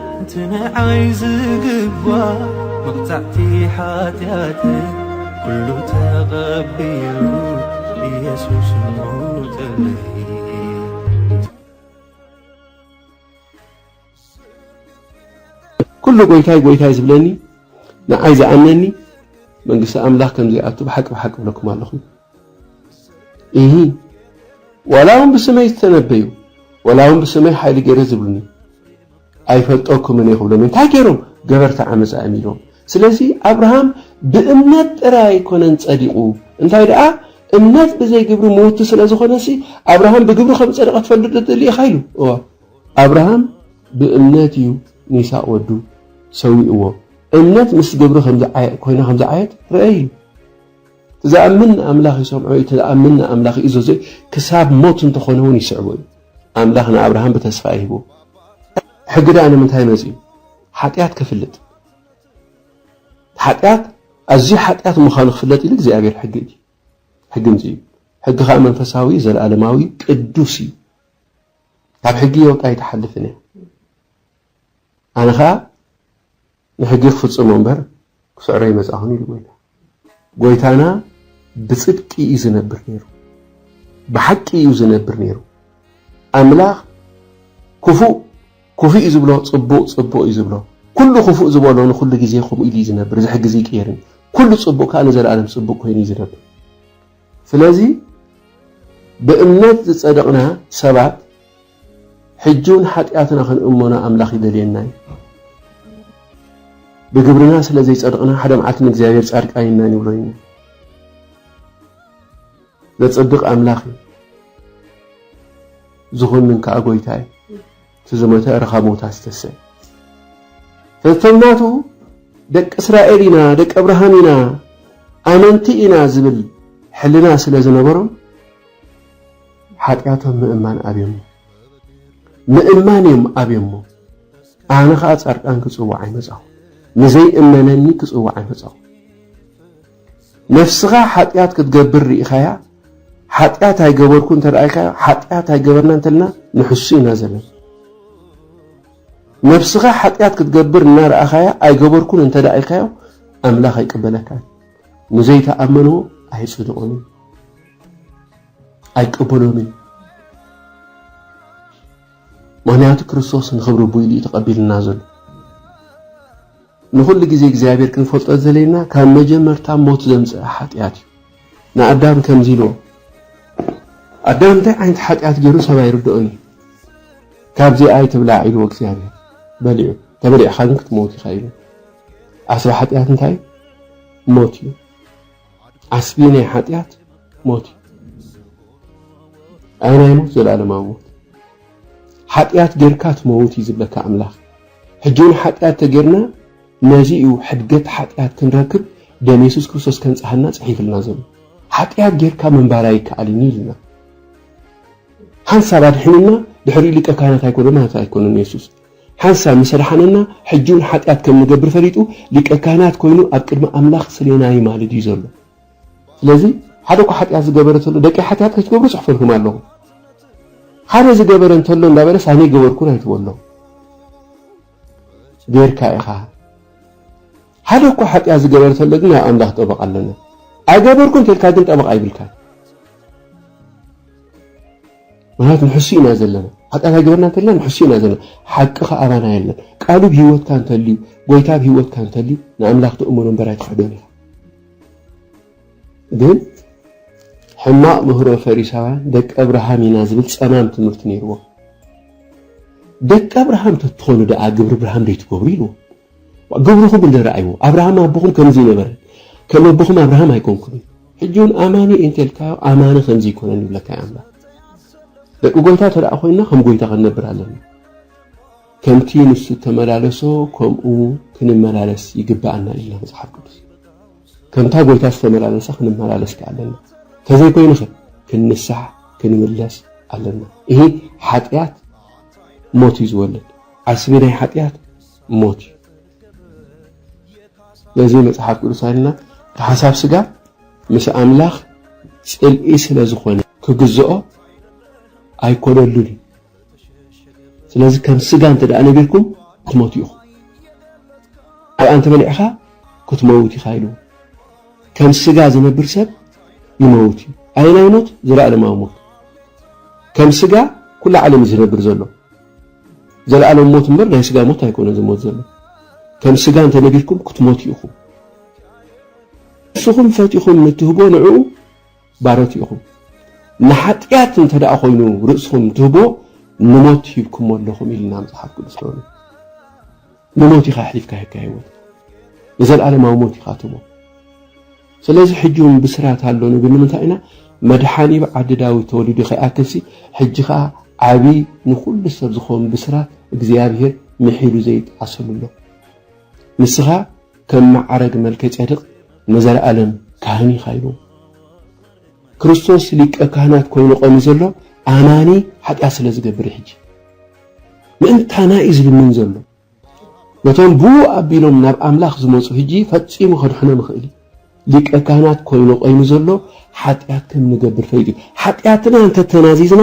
እቲ ንዓይ ዝግባእ መቕጻዕቲ ሓጢኣተይ ኩሉ ተቐቢሉ ኢየሱስ ሞተለይ ኩሉ ጎይታይ ጎይታይ ዝብለኒ ንዓይ ዝኣምነኒ መንግስቲ ኣምላኽ ከም ዘይኣቱ ብሓቂ ብሓቂ እብለኩም ኣለኹ እሂ ዋላ እውን ብስመይ ዝተነበዩ ዋላ እውን ብስመይ ሓይሊ ገይረ ዝብሉኒ ኣይፈልጠኩምን እየ ክብሎም እዩ። እንታይ ገይሮም? ገበርቲ ዓመፃ እዮም ኢሎም። ስለዚ ኣብርሃም ብእምነት ጥራይ ኣይኮነን ፀዲቑ፣ እንታይ ደኣ እምነት ብዘይ ግብሪ ምውቲ ስለ ዝኾነሲ ኣብርሃም ብግብሪ ከም ዝፀደቐ ትፈልጥ ዶ ትደሊ ኢኻ ኢሉ። እወ። ኣብርሃም ብእምነት እዩ ንይስሃቅ ወዱ ሰዊእዎ። እምነት ምስ ግብሪ ኮይና ከም ዝዓየት ርኣይ ኢሉ። ዝኣምን ንኣምላኽ ይሰምዖ እዩ፣ እቲ ዝኣምን ንኣምላኽ ይእዘዞ እዩ፣ ክሳብ ሞት እንተኾነ እውን ይስዕቦ እዩ። ኣምላኽ ንኣብርሃም ብተስፋ ይህቦ። ሕጊ ደኣ ንምንታይ መጺኡ? ሓጢኣት ክፍልጥ። ሓጢኣት ኣዝዩ ሓጢኣት ምዃኑ ክፍለጥ ኢሉ እግዚኣብሔር ሕጊ እዩ ሕጊ ምጽኡ ሕጊ ከዓ መንፈሳዊ ዘለኣለማዊ ቅዱስ እዩ ካብ ሕጊ የውጣ ኣይትሓልፍን እያ ኣነ ከዓ ንሕጊ ክፍጽሞ እምበር ክስዕሮ ኣይመጻኹን ኢሉ ጐይታ። ጐይታና ብጽድቂ እዩ ዝነብር ነይሩ፣ ብሓቂ እዩ ዝነብር ነይሩ። ኣምላኽ ክፉእ ክፉእ እዩ ዝብሎ፣ ጽቡቕ ጽቡቕ እዩ ዝብሎ። ኩሉ ክፉእ ዝበሎ ንኹሉ ግዜ ከምኡ ኢሉ እዩ ዝነብር፣ እዚ ሕጊ ዘይቅየርን። ኩሉ ጽቡቕ ከኣ ንዘለኣለም ጽቡቕ ኮይኑ እዩ ዝነብር። ስለዚ ብእምነት ዝጸደቕና ሰባት ሕጂውን ሓጢኣትና ክንእመኖ ኣምላኽ ይደልየና እዩ። ብግብርና ስለ ዘይጸድቕና ሓደ መዓልቲ ንእግዚኣብሔር ጻድቃን ኢና ንብሎ ኢና። ዘጽድቕ ኣምላኽ እዩ፣ ዝኾንን ከኣ ጎይታ እዩ። እቲ ዝሞተ ረኻ ሞታ ዝተሰ ተተምናቱ ደቂ እስራኤል ኢና ደቂ ኣብርሃም ኢና ኣመንቲ ኢና ዝብል ሕልና ስለ ዝነበሮም ሓጢኣቶም ምእማን ኣብዮሞ ምእማን እዮም ኣብዮሞ ኣነ ከዓ ፃድቃን ክፅዋዕ ኣይመፃኹ ንዘይእመነኒ ክፅዋዕ ኣይመፃኹ ነፍስኻ ሓጢኣት ክትገብር ርኢኻያ ሓጢኣት ኣይገበርኩ እንተ ኢልካዮ ሓጢኣት ኣይገበርና እንተልና ንሕሱ ኢና ዘለና ነፍስኻ ሓጢኣት ክትገብር እናረኣኻያ ኣይገበርኩን እንተ ኢልካዮ ኣምላኽ ኣይቅበለካን ንዘይተኣመንዎ ኣይፅድቑን እዩ ኣይቅበሎን እዩ ምክንያቱ ክርስቶስ ንክብሪ ኣቦይ ኢሉ እዩ ተቀቢልና ዘሎ ንኩሉ ግዜ እግዚኣብሔር ክንፈልጦ ዘለና ካብ መጀመርታ ሞት ዘምፀ ሓጢኣት እዩ ንኣዳም ከምዚ ኢልዎ ኣዳም እንታይ ዓይነት ሓጢኣት ገይሩ ሰብ ኣይርድኦን እዩ ካብዚ ኣይትብላዕ ኢልዎ እግዚኣብሔር በሊዑ ተበሊዕካ ግን ክትመውት ኢኻ ኢሉ ዓስቢ ሓጢኣት እንታይ ሞት እዩ ዓስቢ ናይ ሓጢኣት ሞት እዩ ኣይ ናይ ሞት ዘላለማዊ ሞት ሓጢኣት ጌርካ ትመውት እዩ ዝብለካ ኣምላኽ ሕጂ እውን ሓጢኣት ተጌርና ነዚ እዩ ሕድገት ሓጢኣት ክንረክብ ደም የሱስ ክርስቶስ ከንጽሃና ጽሒፍልና ዘሎ ሓጢኣት ጌርካ ምንባር ኣይከኣልን እዩ ኢልና ሓንሳብ ኣድሕንና ድሕሪ ሊቀ ካህናት ኣይኮነ ማለት ኣይኮነን የሱስ ሓንሳብ ምስ ኣድሓነና ሕጂውን ሓጢኣት ከም ንገብር ፈሊጡ ሊቀ ካህናት ኮይኑ ኣብ ቅድሚ ኣምላኽ ክስልየና ይማልድ እዩ ዘሎ ስለዚ ሓደ እኳ ሓጢኣት ዝገበረ ተሎ ደቀይ ሓጢኣት ከይትገብሩ ጽሕፈልኩም ኣለኹ ሓደ ዝገበረ እንተሎ እንዳበለስ ኣነ ገበርኩን ኣይትበሎ ጌርካ ኢኻ ሓደ እኳ ሓጢኣት ዝገበረ ተሎ ግን ናብ ኣምላኽ ጠበቃ ኣለና ኣይገበርኩን ተልካ ግን ጠበቃ ይብልካ ምክንያቱ ንሕሱ ኢና ዘለና ሓጢኣት ኣይገበርና እንተልና ንሕሱ ኢና ዘለና ሓቂ ከዓ ኣባና የለን ቃሉ ብ ሂወትካ እንተልዩ ጎይታ ብ ሂወትካ እንተልዩ ንኣምላኽ ትእምኖ እምበር ኣይትክሕዶን ኢኻ ግን ሕማቕ ምህሮ ፈሪሳውያን ደቂ ኣብርሃም ኢና ዝብል ጸማም ትምህርቲ ነይርዎ ደቂ ኣብርሃም ተትኾኑ ደኣ ግብሪ ብርሃም ደይትገብሩ ኢልዎ ግብርኹም እንድህር ርኣይዎ፣ ኣብርሃም ኣቦኹም ከምዙይ ነበረ፣ ከም ኣቦኹም ኣብርሃም ኣይኮንኩምን። ሕጂ እውን ኣማኒ እየ እንተልካዮ ኣማኒ ከምዚ ይኮነን ይብለካ እዩ ኣምላኽ። ደቂ ጎይታ ተደኣ ኮይንና ከም ጎይታ ክንነብር ኣለና። ከምቲ ንሱ ተመላለሶ ከምኡ ክንመላለስ ይግባኣና ኢልና መጽሓፍ ቅዱስ ከምታ ጎይታ ዝተመላለሰ ክንመላለስ ከ ኣለና ተዘይኮይኑ ኸ ክንንሳሕ ክንምለስ ኣለና ይህ ሓጢኣት ሞት እዩ ዝወለድ ዓስቢ ናይ ሓጢኣት ሞት እዩ ነዚ መጽሓፍ ቅዱስ ኣልና ብሓሳብ ስጋ ምስ ኣምላኽ ጽልኢ ስለ ዝኾነ ክግዝኦ ኣይኮነሉን እዩ ስለዚ ከም ስጋ እንተ ደኣ ነቢርኩም ክትሞቱ ኢኹም ኣብኣ እንተበሊዕኻ ክትመውት ኢኻ ኢሉ ከም ስጋ ዝነብር ሰብ ይመውት እዩ ኣየናይ ሞት ዘለኣለማዊ ሞት ከም ስጋ ኩሉ ዓለም ዝነብር ዘሎ ዘለኣለም ሞት እምበር ናይ ስጋ ሞት ኣይኮነን ዝሞት ዘሎ ከም ስጋ እንተነቢርኩም ክትሞቱ ኢኹም ንስኹም ፈቲኹም ንትህቦ ንዕኡ ባሮት ኢኹም ንሓጢኣት እንተ ደኣ ኮይኑ ርእስኹም ትህቦ ንሞት ሂብኩሞ ኣለኹም ኢልና መጽሓፍ ቅዱስ ሮሜ ንሞት ኢኻ ኣሕሊፍካ ሂብካ ህይወትካ ንዘለኣለማዊ ሞት ኢኻ ትቦ ስለዚ ሕጂ ውን ብስራት ኣሎ ንብል ንምንታይ ኢና መድሓኒ ብ ዓዲ ዳዊት ተወሊዱ ከይኣክል ሲ ሕጂ ከኣ ዓቢ ንኩሉ ሰብ ዝከውን ብስራት እግዚኣብሄር ምሒሉ ዘይጣዓሰሉ ኣሎ ንስካ ከም መዓረግ መልከጼድቅ ንዘላኣለም ካህን ኢካ ኢልዎ ክርስቶስ ሊቀ ካህናት ኮይኑ ቆምዩ ዘሎ ኣማኒ ሓጢኣት ስለ ዝገብር ዩ ሕጂ ምእንታና ዩ ዝልምን ዘሎ ነቶም ብኡ ኣቢሎም ናብ ኣምላኽ ዝመጹ ህጂ ፈጺሙ ከድሕኖም ይኽእል እዩ። ሊቀ ካህናት ኮይኑ ቀይሙ ዘሎ ሓጢኣት ከም ንገብር ፈሊጡ እዩ። ሓጢኣትና እንተ ተናዚዝና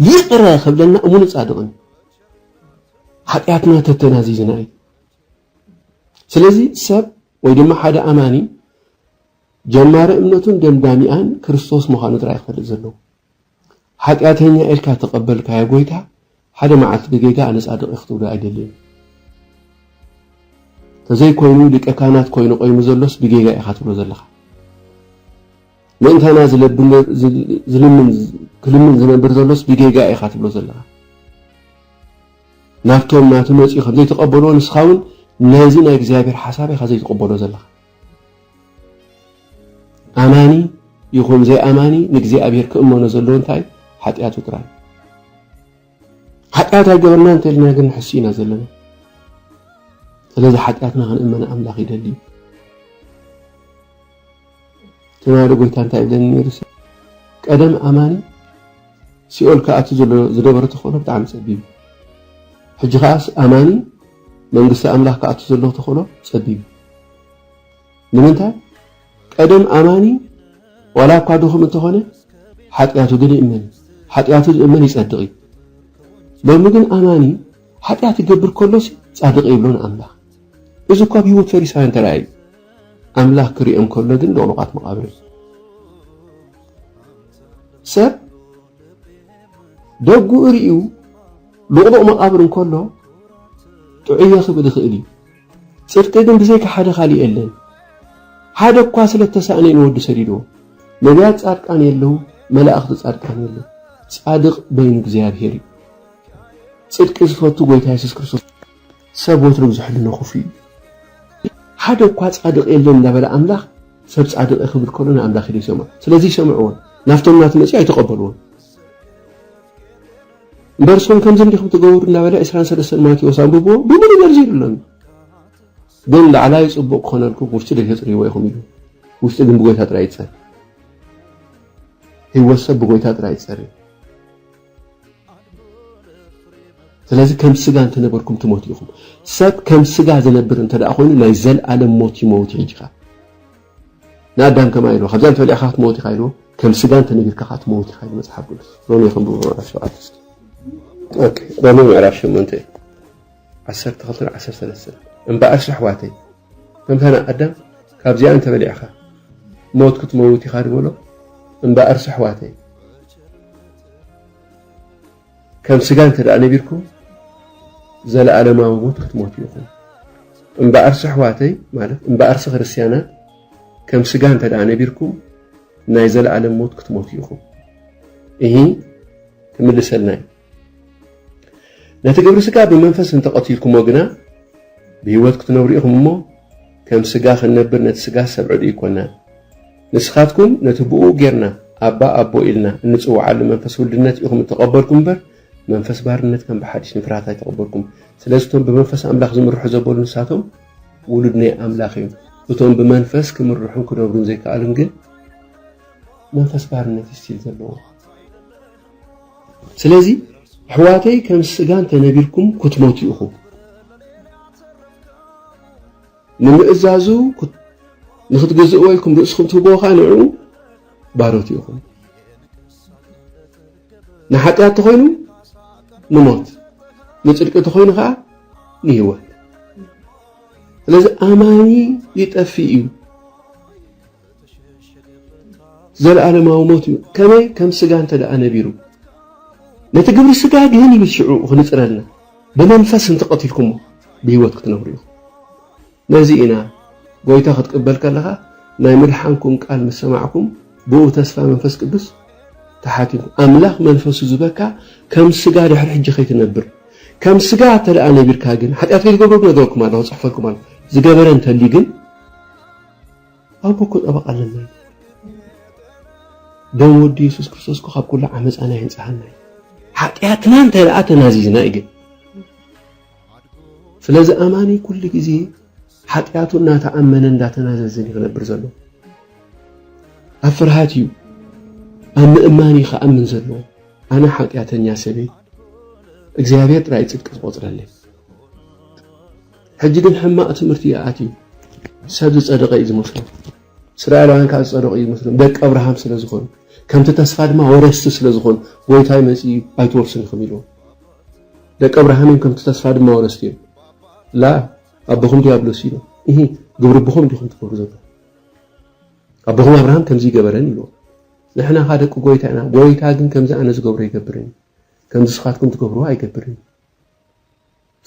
ይቕረ ክብለና እሙንን ጻድቕን እዩ። ሓጢኣትና እንተ ተናዚዝና እዩ። ስለዚ ሰብ ወይ ድማ ሓደ ኣማኒ ጀማሪ እምነቱን ደምዳሚኣን ክርስቶስ ምዃኑ ጥራይ ክፈልጥ ዘለዎ። ሓጢኣተኛ ኢልካ እተቐበልካዮ ጐይታ፣ ሓደ መዓልቲ ብጌጋ ኣነ ጻድቕ እየ ክትብሎ ኣይደልን። ተዘይኮይኑ ሊቀ ካህናት ኮይኑ ቆይሙ ዘሎስ ብጌጋ ኢኻ ትብሎ ዘለኻ። ምእንታና ዝልምን ክልምን ዝነብር ዘሎስ ብጌጋ ኢኻ ትብሎ ዘለኻ። ናብቶም ናቱ መጺኡ ከም ዘይተቐበልዎ ንስኻ እውን ነዚ ናይ እግዚኣብሔር ሓሳብ ኢኻ ዘይትቕበሎ ዘለኻ። ኣማኒ ይኹን ዘይኣማኒ ንእግዚኣብሔር ክእመኖ ዘለዎ እንታይ ሓጢኣቱ ጥራይ ሓጢኣት ኣይገበርና እንተልና ግን ንሕሱ ኢና ዘለና ስለዚ ሓጢኣትና ክንእመነ ኣምላኽ ይደሊ እዩ ትማሊ ጎይታ እንታይ ይብለኒ ነይሩ ቀደም ኣማኒ ሲኦል ክኣቱ ዘሎ ዝነበረ ተኽእሎ ብጣዕሚ ፀቢብ ሕጂ ከዓስ ኣማኒ መንግስቲ ኣምላኽ ክኣቱ ዘለዎ ተኽእሎ ጸቢብ እዩ። ንምንታይ? ቀደም ኣማኒ ዋላ እኳ ድኹም እንተኾነ ሓጢኣቱ ግን ይእመን እዩ። ሓጢኣቱ ዝእመን ይጸድቕ እዩ። ሎሚ ግን ኣማኒ ሓጢኣት ይገብር ከሎሲ ጻድቕ ይብሎ ንኣምላኽ። እዚ እኳ ኣብ ህይወት ፈሪሳውያን ተራእየ እዩ። ኣምላኽ ክሪኦም ከሎ ግን ልቕሉቓት መቓብር እዮም። ሰብ ደጉኡ ርእዩ ሉቕሉቕ መቓብር እንከሎ ጥዑየ ክብል ይኽእል እዩ። ጽድቂ ግን ብዘይካ ሓደ ካልእ የለን። ሓደ እኳ ስለ እተሳእነ እዩ ንወዱ ሰዲድዎ። ነቢያት ጻድቃን የለዉ፣ መላእኽቲ ጻድቃን የለዉ። ጻድቕ በይኑ እግዚኣብሔር እዩ። ጽድቂ ዝፈቱ ጎይታ የሱስ ክርስቶስ እዩ። ሰብ ወትሩ ብዙሕ ሕልና ክፉእ እዩ። ሓደ እኳ ጻድቕ የለን እንዳበለ ኣምላኽ ሰብ ጻድቕ እየ ክብል ከሎ ንኣምላኽ ኢሉ ይሰምዖ። ስለዚ ኣይሰምዕዎን። ናብቶም ናቱ መጺኡ ኣይተቐበልዎን። እምበር እሶም ከምዚ እንዲኹም ትገብሩ እናበለ ዕስራን ሰለስተን ማቴዎስ ኣንብብዎ ብምሉእ ዘርዚሩሎም ግን ላዕላይ ጽቡቕ ክኾነልኩም ውሽጢ ደይተጽርይዎ ኢኹም ኢሉ ውሽጢ ግን ብጎይታ ጥራይ ይጸር ህይወት ሰብ ብጎይታ ጥራይ ይጸር ስለዚ ከም ስጋ እንተ ነበርኩም ትሞቱ ኢኹም። ሰብ ከም ስጋ ዝነብር እንተ ደኣ ኮይኑ ናይ ዘልኣለም ሞት ይመውት እዩ ሕጂ ከኣ። ንኣዳም ከማይ ኢልዎ ካብዛ እንተ በሊዕካ ክትመውት ኢኻ ኢልዎ ከም ስጋ እንተ ነቢርካ ከኣ ትመውት ኢኻ ኢሉ መጽሓፍ ቅዱስ። ሮሜ ከንብቡ ምዕራፍ ሸውዓተ እስኪ። ኦኬ ሮሜ ምዕራፍ ሸሞንተ ዓሰርተ ክልተን ዓሰርተ ሰለስተን እምበኣርስ ኣሕዋተይ ከምታ ንኣዳም ካብዚኣ እንተ በሊዕካ ሞት ክትመውት ኢኻ ድበሎ እምበኣርስ ኣሕዋተይ ከም ስጋ እንተ ደኣ ነቢርኩም ዘለኣለማዊ ሞት ክትሞቱ ኢኹም እምበኣርሲ ኣሕዋተይ ማለት እምበኣርሲ ክርስትያናት ከም ስጋ እንተ ደኣ ነቢርኩም ናይ ዘለኣለም ሞት ክትሞቱ ኢኹም እሂ ክምልሰልና እዩ ነቲ ግብሪ ስጋ ብመንፈስ እንተ ቐቲልኩሞ ግና፣ ብህይወት ክትነብሩ ኢኹም እሞ፣ ከም ስጋ ክንነብር ነቲ ስጋ ሰብዕዱ ኣይኮናን። ንስኻትኩም ነቲ ብእኡ ጌርና ኣባ ኣቦ ኢልና እንጽውዓሉ መንፈስ ውልድነት ኢኹም እተቐበልኩም እምበር፣ መንፈስ ባርነት ከም ብሓድሽ ንፍርሃት ኣይተቐበልኩም። ስለዚ እቶም ብመንፈስ ኣምላኽ ዝምርሑ ዘበሉ ንሳቶም ውሉድ ናይ ኣምላኽ እዮም። እቶም ብመንፈስ ክምርሑን ክነብሩን ዘይከኣሉን ግን መንፈስ ባርነት እዩ ስቲል ዘለዎ። ስለዚ ኣሕዋተይ ከም ስጋ እንተነቢርኩም ክትሞቱ ኢኹም ንምእዛዙ ንክትግዝእዎ ኢልኩም ርእስኹም ትህብዎ ከዓ ንዕኡ ባሮት ኢኹም ንሓጢኣት ተኾይኑ ንሞት ንፅድቂ ተኾይኑ ከዓ ንህይወት ስለዚ ኣማኒ ይጠፍእ እዩ ዘልኣለማዊ ሞት እዩ ከመይ ከም ስጋ እንተ ነቢሩ ነቲ ግብሪ ስጋ ግን ይብል ሽዑ ክንጽረልና ብመንፈስ እንተ ቀቲልኩሞ ብህይወት ክትነብሩ ኢኹም ነዚ ኢና ጎይታ ክትቅበል ከለኻ ናይ ምድሓንኩም ቃል ምስ ሰማዕኩም ብኡ ተስፋ መንፈስ ቅዱስ ተሓቲሙ ኣምላኽ መንፈሱ ዝበካ ከም ስጋ ድሕሪ ሕጂ ከይትነብር ከም ስጋ እተ ነቢርካ ግን ሓጢኣት ከይትገብሩ ነገረኩም ኣለኹ ጽሕፈልኩም ኣለኹ ዝገበረ እንተልዩ ግን ኣቦ እኮ ጠበቃ ኣለና ኢና ደም ወዲ የሱስ ክርስቶስ እኮ ካብ ኩሉ ዓመፃና የንፅሃና እዩ ሓጢኣትና እንተ ደኣ ተናዚዝና እዩ ግን ስለዚ ኣማኒ ኩሉ ግዜ ሓጢኣቱ እናተኣመነ እንዳተናዘዝን እዩ ክነብር ዘሎ ኣብ ፍርሃት እዩ ኣብ ምእማን እዩ ክኣምን ዘለዎ ኣነ ሓጢኣተኛ ሰበይ እግዚኣብሔር ጥራይ ፅድቂ ዝቆፅረለይ ሕጂ ግን ሕማቅ ትምህርቲ እዩ ኣትዩ ሰብ ዝጸደቀ እዩ ዝመስሎም እስራኤላውያን ከኣ ዝጸደቁ እዩ ዝመስሎም ደቂ ኣብርሃም ስለ ዝኾኑ ከምቲ ተስፋ ድማ ወረስቲ ስለ ዝኾኑ ጎይታይ መጽዩ ኣይትወርሱን ኢኹም ኢልዎም ደቂ ኣብርሃም እዮም ከምቲ ተስፋ ድማ ወረስቲ እዮም ላ ኣቦኹም ዲያብሎስ እዩ እሂ ግብሪ ኣቦኹም እንዲኹም ትገብሩ ዘሎ ኣቦኹም ኣብርሃም ከምዚ ይገበረን ኢልዎ ንሕና ካ ደቂ ጎይታ ኢና ጎይታ ግን ከምዚ ኣነ ዝገብሮ ይገብርን ከምዚ ስኻትኩም ትገብርዎ ኣይገብርን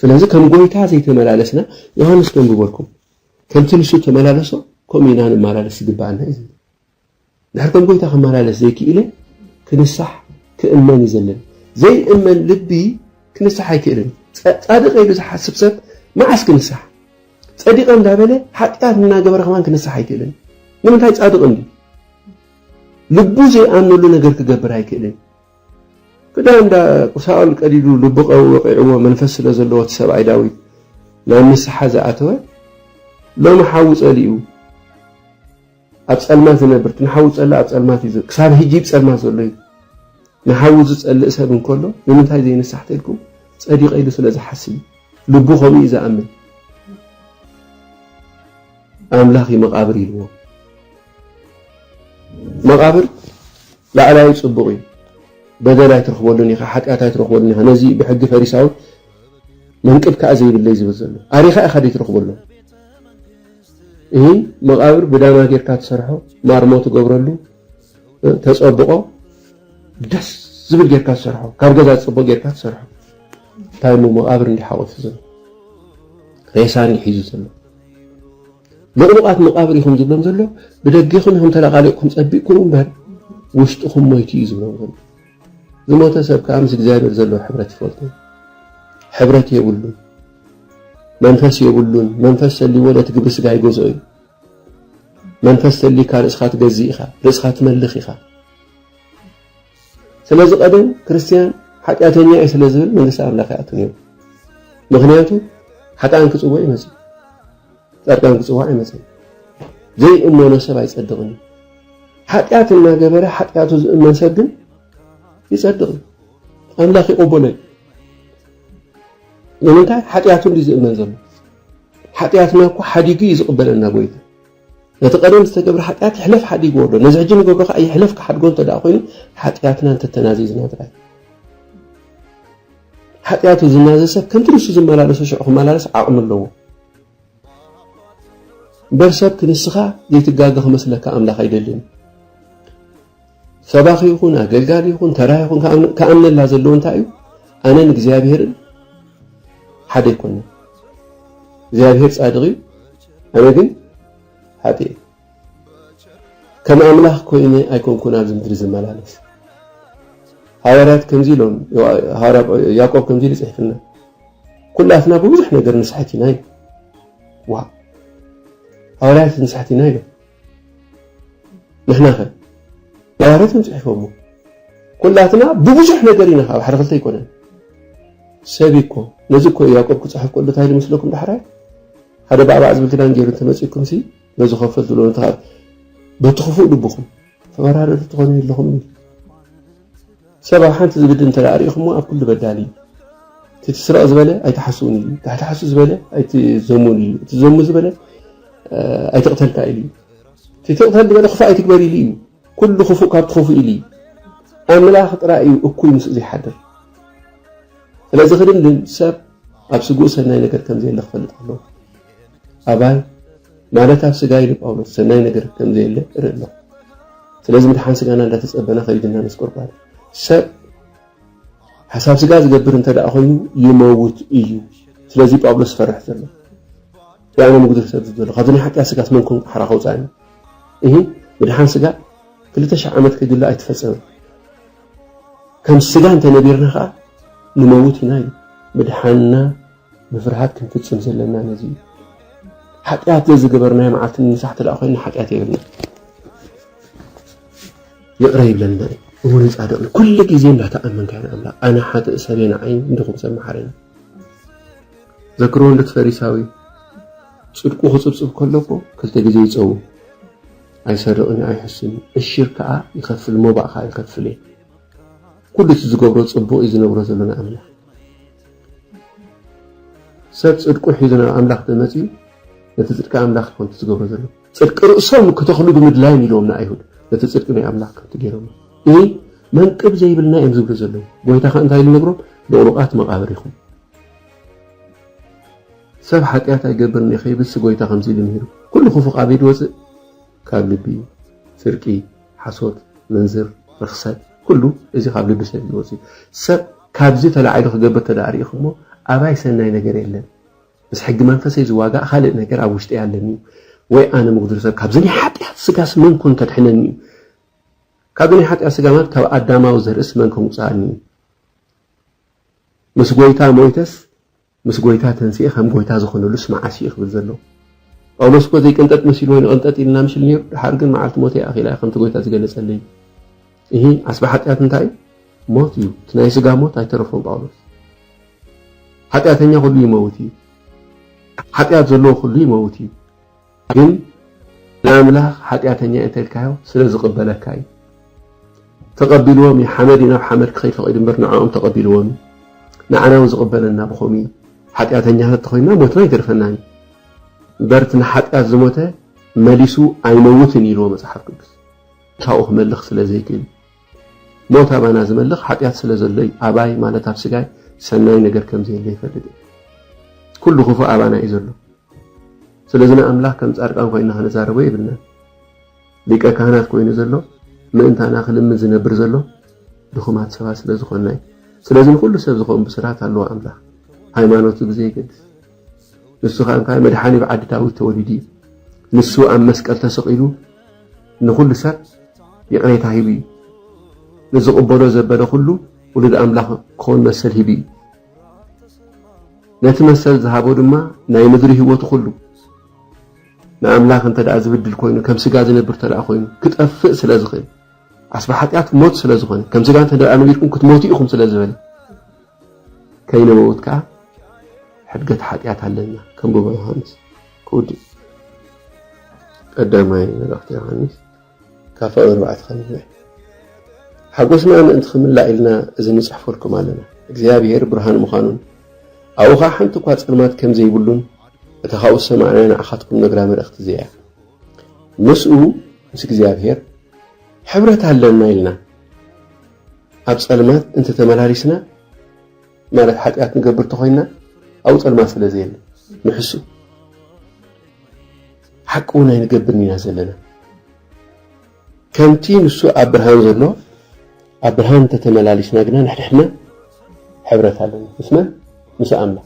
ስለዚ ከም ጐይታ ዘይተመላለስና ዮሃንስ ከንብቦ ኣልኩም ከምቲ ንሱ እተመላለሶ ከምኡ ኢና ንመላለስ ዝግብኣና እዩ ዝብል ድሕር ከም ጐይታ ክመላለስ ዘይክኢለ ክንሳሕ ክእመን እዩ ዘለን ዘይእመን ልቢ ክንሳሕ ኣይክእልን ጻድቀ ኢሉ ዝሓስብ ሰብ መዓስ ክንሳሕ ጸዲቀ እንዳበለ ሓጢኣት እናገበረ ከማን ክንሳሕ ኣይክእልን ንምንታይ ጻድቅ እንዲ ልቡ ዘይኣምነሉ ነገር ክገብር ኣይክእልን ክዳን ሳኦል ቀዲዱ ልቡ ወቒዕዎ መንፈስ ስለ ዘለዎ እቲ ሰብኣይ ዳዊት ናብ ንስሓ ዝኣተወ ሎሚ ሓዊ ጸሊኡ ኣብ ጸልማት ዝነብር እቲ ንሓዊ ዝጸልእ ኣብ ጸልማት እዩ ክሳብ ሕጂ ብ ጸልማት ዘሎ እዩ ንሓዊ ዝጸልእ ሰብ እንከሎ ንምንታይ ዘይንሳሕ ተልኩም ጸዲቐ ኢሉ ስለ ዝሓስብ እዩ ልቡ ከምኡ እዩ ዝኣምን ኣምላኽ እዩ መቓብር ኢልዎ። መቓብር ላዕላዊ ጽቡቕ እዩ። በደል ኣይትረኽበሉን ኢኻ፣ ሓጢኣት ኣይትረኽበሉን ኢኻ። ነዚ ብሕጊ ፈሪሳዊ መንቅብ ከዓ ዘይብለይ ዝብል ዘሎ ኣሪኻ ኢኻ ደይ ትረኽበሉ ይህን መቓብር ብዳማ ጌርካ ትሰርሖ ማርሞ ትገብረሉ ተጸብቆ ደስ ዝብል ጌርካ ትሰርሖ ካብ ገዛ ዝጽቡቕ ጌርካ ትሰርሖ እንታይ እሞ መቓብር እንዲሓቆፍ ዘሎ ሬሳ እንዲሒዙ ዘሎ ልቕሉቓት መቓብር ኢኹም ዝብሎም ዘሎ ብደጌኹም ኢኹም ተለቓሊቕኩም ጸቢቕኩም እምበር ውሽጥኹም ሞይቱ እዩ ዝብሎም ዘሎ ዝሞተ ሰብ ከዓ ምስ እግዚኣብሔር ዘለዎ ሕብረት ይፈልጡ ሕብረት የብሉን መንፈስ የብሉን መንፈስ ሰሊዎ ነቲ ግብሪ ስጋ ይገዝኦ እዩ መንፈስ ሰሊካ ርእስኻ ትገዝእ ኢኻ ርእስኻ ትመልኽ ኢኻ ስለዚ ቀደም ክርስትያን ሓጢኣተኛ እዩ ስለ ዝብል መንግስቲ ኣምላኽ ይኣቱ ነይሩ ምክንያቱ ሓጥኣን ክፅውዕ ይመፅእ ፃድቃን ክፅዋዕ ኣይመፅን ዘይእመኖ ሰብ ኣይፀድቕን እዩ ሓጢኣት እናገበረ ሓጢኣቱ ዝእመን ሰብ ግን ይፀድቕ እዩ ኣምላኽ ይቕበሎ እዩ ንምንታይ ሓጢኣቱ እንዲ ዝእመን ዘሎ ሓጢኣትና እኮ ሓዲጉ እዩ ዝቕበለና ጎይታ ነቲ ቀደም ዝተገብረ ሓጢኣት ይሕለፍ ሓዲግዎ ኣሎ፣ ነዚ ሕጂ ንገብሮ ከኣ ይሕለፍ ክሓድጎ እንተ ደኣ ኮይኑ ሓጢኣትና እንተ ተናዚዝና ጥራይ እዩ። ሓጢኣቱ ዝናዘዝ ሰብ ከምቲ ንሱ ዝመላለሶ ሽዑ ክመላለስ ዓቕሚ ኣለዎ። እምበር ሰብ ክንስኻ ዘይትጋገ ክመስለካ ኣምላኽ ኣይደልን። ሰባኺ ይኹን ኣገልጋሊ ይኹን ተራ ይኹን ክኣምነላ ዘለዎ እንታይ እዩ ኣነን እግዚኣብሄርን ሓደ ይኮነ እግዚኣብሄር ጻድቕ እዩ ኣነ ግን ሓጢ እዩ ከም ኣምላኽ ኮይነ ኣይኮንኩን ኣብዚ ምድሪ ዝመላለስ ሃዋርያት ከምዚ ኢሎም ያዕቆብ ከምዚ ኢሉ ጽሒፍና ኩላትና ብብዙሕ ነገር ንስሕት ኢና እዩ ዋ ሃዋርያት ንስሕት ኢና ኢሎም ንሕና ከ ኣዋርት እዮም ጽሒፎሞ ኩላትና ብብዙሕ ነገር ኢና ካብ ሓደ ክልተ ኣይኮነን ሰብ እኮ ነዚ እኮ ያቆብ ክጽሕፍ ከሎ እንታይ ዝመስለኩም ዳሕራይ ሓደ ባዕባዕ ዝብል ክዳን ገይሩ እንተመጺእኩም ሲ ነዚ ከፈል ዝብሎ በቲ ክፉእ ልብኹም ተወራረዱ ትኾኑ ኣለኹም ሰብ ኣብ ሓንቲ ዝብድል እንተ ርኢኹሞ ኣብ ኩሉ በዳሊ እዩ። እቲ ትስረቕ ዝበለ ኣይትሓስውን ኢሉ፣ እቲ ሓሱ ዝበለ ኣይትዘሙን ኢሉ፣ እቲ ዘሙ ዝበለ ኣይትቕተልካ ኢሉ፣ እቲ ትቕተል ዝበለ ክፉእ ኣይትግበር ኢሉ እዩ። ኩሉ ክፉእ ካብቲ ክፉእ ኢሉ እዩ። ኣምላኽ ጥራይ እዩ እኩይ ምስ ዘይሓድር። ስለዚ ክድምድም ሰብ ኣብ ስግኡ ሰናይ ነገር ከም ዘየለ ክፈልጥ ኣለዎ። ኣባይ ማለት ኣብ ስጋ ኢሉ ጳውሎስ ሰናይ ነገር ከም ዘየለ እርኢ ኣለኹ። ስለዚ ምድሓን ስጋና እንዳተጸበና ከይድና ነስቆርቋር ሰብ ሓሳብ ስጋ ዝገብር እንተ ደኣ ኮይኑ ይመውት እዩ። ስለዚ ጳውሎስ ፈርሕ ዘሎ ያነ ምጉድር ሰብ ዝበሎ ካብዚ ናይ ሓጢኣት ስጋስ መን ኮን ሓራ ከውጻእኒ እሂ ምድሓን ስጋ ክልተ ሽሕ ዓመት ከይድሎ ኣይተፈጸመን። ከም ስጋ እንተ ነቢርና ከኣ ንመውት ኢና እዩ ምድሓንና ብፍርሃት ክንፍጽም ዘለና ነዚ እዩ። ሓጢኣት ዘዝገበርናዮ መዓልቲ ንንሳሕ ተደኣ ኮይና ሓጢኣት የብልና ይቕረ ይብለልና እዩ። እሙንን ጻድቕን ኩሉ ግዜ እንዳተኣመንካ ኢና ኣምላኽ ኣነ ሓጥእ ሰበ ንዓይ እንድኹም ሰብ መሓረኒ ዘክርዎ እንዶ ፈሪሳዊ ጽድቁ ክጽብጽብ ከለኮ ክልተ ግዜ ይጸው ኣይሰርቕን ኣይሕስን እሽር ከዓ ይኸፍል ሞባእ ከዓ ይኸፍል እየ ኩሉ እቲ ዝገብሮ ጽቡቕ እዩ ዝነብሮ ዘሎ ንኣምላኽ ሰብ ጽድቁ ሒዙ ናብ ኣምላኽ ተመጺኡ ነቲ ጽድቂ ኣምላኽ ከምቲ ዝገብሮ ዘሎ ጽድቂ ርእሶም ክተኽሉ ብምድላዮም ኢልዎም ንኣይሁድ ነቲ ጽድቂ ናይ ኣምላኽ ከምቲ ገይሮም እዚ መንቅብ ዘይብልና እዮም ዝብሉ ዘለዉ ጎይታ ከ እንታይ ኢሉ ነግሮም ልቕሉቓት መቓብር ኢኹም ሰብ ሓጢኣት ኣይገብርን እዩ ከይብልሲ ጎይታ ከምዚ ኢሉ ምሂሩ ኩሉ ክፉእ ኣበይ ድወፅእ ካብ ልቢ እዩ ስርቂ ሓሶት ምንዝር ርኽሰት ኩሉ እዚ ካብ ልቢ ሰብ እዩ ዝወጽእ ሰብ ካብዚ ተላዒሉ ክገብር ተደኣ ርኢኹሞ ኣባይ ሰናይ ነገር የለን ምስ ሕጊ መንፈሰይ ዝዋጋእ ካልእ ነገር ኣብ ውሽጠይ ኣለኒ እዩ ወይ ኣነ ምጉድል ሰብ ካብዚ ናይ ሓጢኣት ስጋስ መን ኮን ከድሕነኒ እዩ ካብዚ ናይ ሓጢኣት ስጋ ማለት ካብ ኣዳማዊ ዘርእስ መን ከምውፅኣኒ እዩ ምስ ጎይታ ሞይተስ ምስ ጎይታ ተንሲኤ ከም ጎይታ ዝኾነሉስ መዓስ እዩ ክብል ዘሎ ጳውሎስ እኮ ዘይቅንጠጥ መሲልዎ እዩ ንቕንጠጥ ኢልና ምሽል ነይሩ ድሓር ግን መዓልቲ ሞተይ ኣኺላ እያ ከምቲ ጎይታ ዝገለጸለይ እሂ ዓስቢ ሓጢኣት እንታይ እዩ ሞት እዩ እቲ ናይ ስጋ ሞት ኣይተረፎም ጳውሎስ ሓጢኣተኛ ኩሉ ይመውት እዩ ሓጢኣት ዘለዎ ኩሉ ይመውት እዩ ግን ንኣምላኽ ሓጢኣተኛ እየ እንተልካዮ ስለ ዝቕበለካ እዩ። ተቐቢልዎም እዩ። ሓመድ እዩ ናብ ሓመድ ክኸይድ ፈቒዱ እምበር ንዕኦም ተቐቢልዎም እዩ። ንዓና እውን ዝቕበለና ብኸምኡ እዩ። ሓጢኣተኛታት ተኾይንና ሞትና ይገርፈናን እዩ። እምበር እቲ ንሓጢኣት ዝሞተ መሊሱ ኣይመውትን እዩ ኢልዎ መጽሓፍ ቅዱስ። ካብኡ ክመልኽ ስለ ዘይክእል እዩ። ሞት ኣባና ዝመልኽ ሓጢኣት ስለ ዘሎ እዩ። ኣባይ ማለት ኣብ ስጋይ ሰናይ ነገር ከም ዘየለ ይፈልጥ እየ። ኩሉ ክፉእ ኣባና እዩ ዘሎ። ስለዚ ንኣምላኽ ከም ጻድቃን ኮይና ክንዛረቦ የብልናን። ሊቀ ካህናት ኮይኑ ዘሎ ምእንታና ክልምን ዝነብር ዘሎ ድኹማት ሰባት ስለ ዝኾና እዩ። ስለዚ ንኹሉ ሰብ ዝኾን ብስራት ኣለዎ ኣምላኽ ሃይማኖቱ ብዘይገድስ ንሱ ከኣ እንታይ መድሓኒ ኣብ ዓዲ ዳዊት ተወሊዱ እዩ። ንሱ ኣብ መስቀል ተሰቒሉ ንኹሉ ሰብ ይቕሬታ ሂቡ እዩ። ንዝቕበሎ ዘበለ ኩሉ ውሉድ ኣምላኽ ክኾን መሰል ሂቡ እዩ። ነቲ መሰል ዝሃቦ ድማ ናይ ምድሪ ህይወቱ ኩሉ ንኣምላኽ እንተ ደኣ ዝብድል ኮይኑ ከም ስጋ ዝነብር እንተ ደኣ ኮይኑ ክጠፍእ ስለ ዝኽእል ዓስቢ ሓጢኣት ሞት ስለ ዝኾነ ከም ስጋ እንተ ደኣ ነቢርኩም ክትሞቱ ኢኹም ስለ ዝበለ ከይነበወት ከኣ ሕድገት ሓጢኣት ኣለና ከም ጎቦ ዮሓንስ ክውድእ እዩ። ቀዳማይ መልእኽቲ ዮሓንስ ካብ ፍቕሪ ኣርባዕተ ከምናይ ሓጎስና ምእንቲ ክምላእ ኢልና እዚ ንጽሕፈልኩም ኣለና። እግዚኣብሔር ብርሃን ምዃኑን ኣብኡ ኸዓ ሓንቲ እኳ ጸልማት ከም ዘይብሉን እታ ካብኡ ዝሰማዕናያ ንዓኻትኩም ነግራ መልእኽቲ እዚኣ ምስኡ ምስ እግዚኣብሔር ሕብረት ኣለና ኢልና ኣብ ጸልማት እንተ ተመላሊስና ማለት ሓጢኣት ንገብር ተኾይንና ኣብኡ ጸልማት ስለ ዘየለ ንሕሱ ሓቂ እውን ኣይንገብርን ኢና ዘለና ከምቲ ንሱ ኣብ ብርሃን ዘሎ ኣብ ብርሃን እንተ ተመላሊስና ግና ንሕድሕድና ሕብረት ኣለና ምስ መን ምስ ኣምላኽ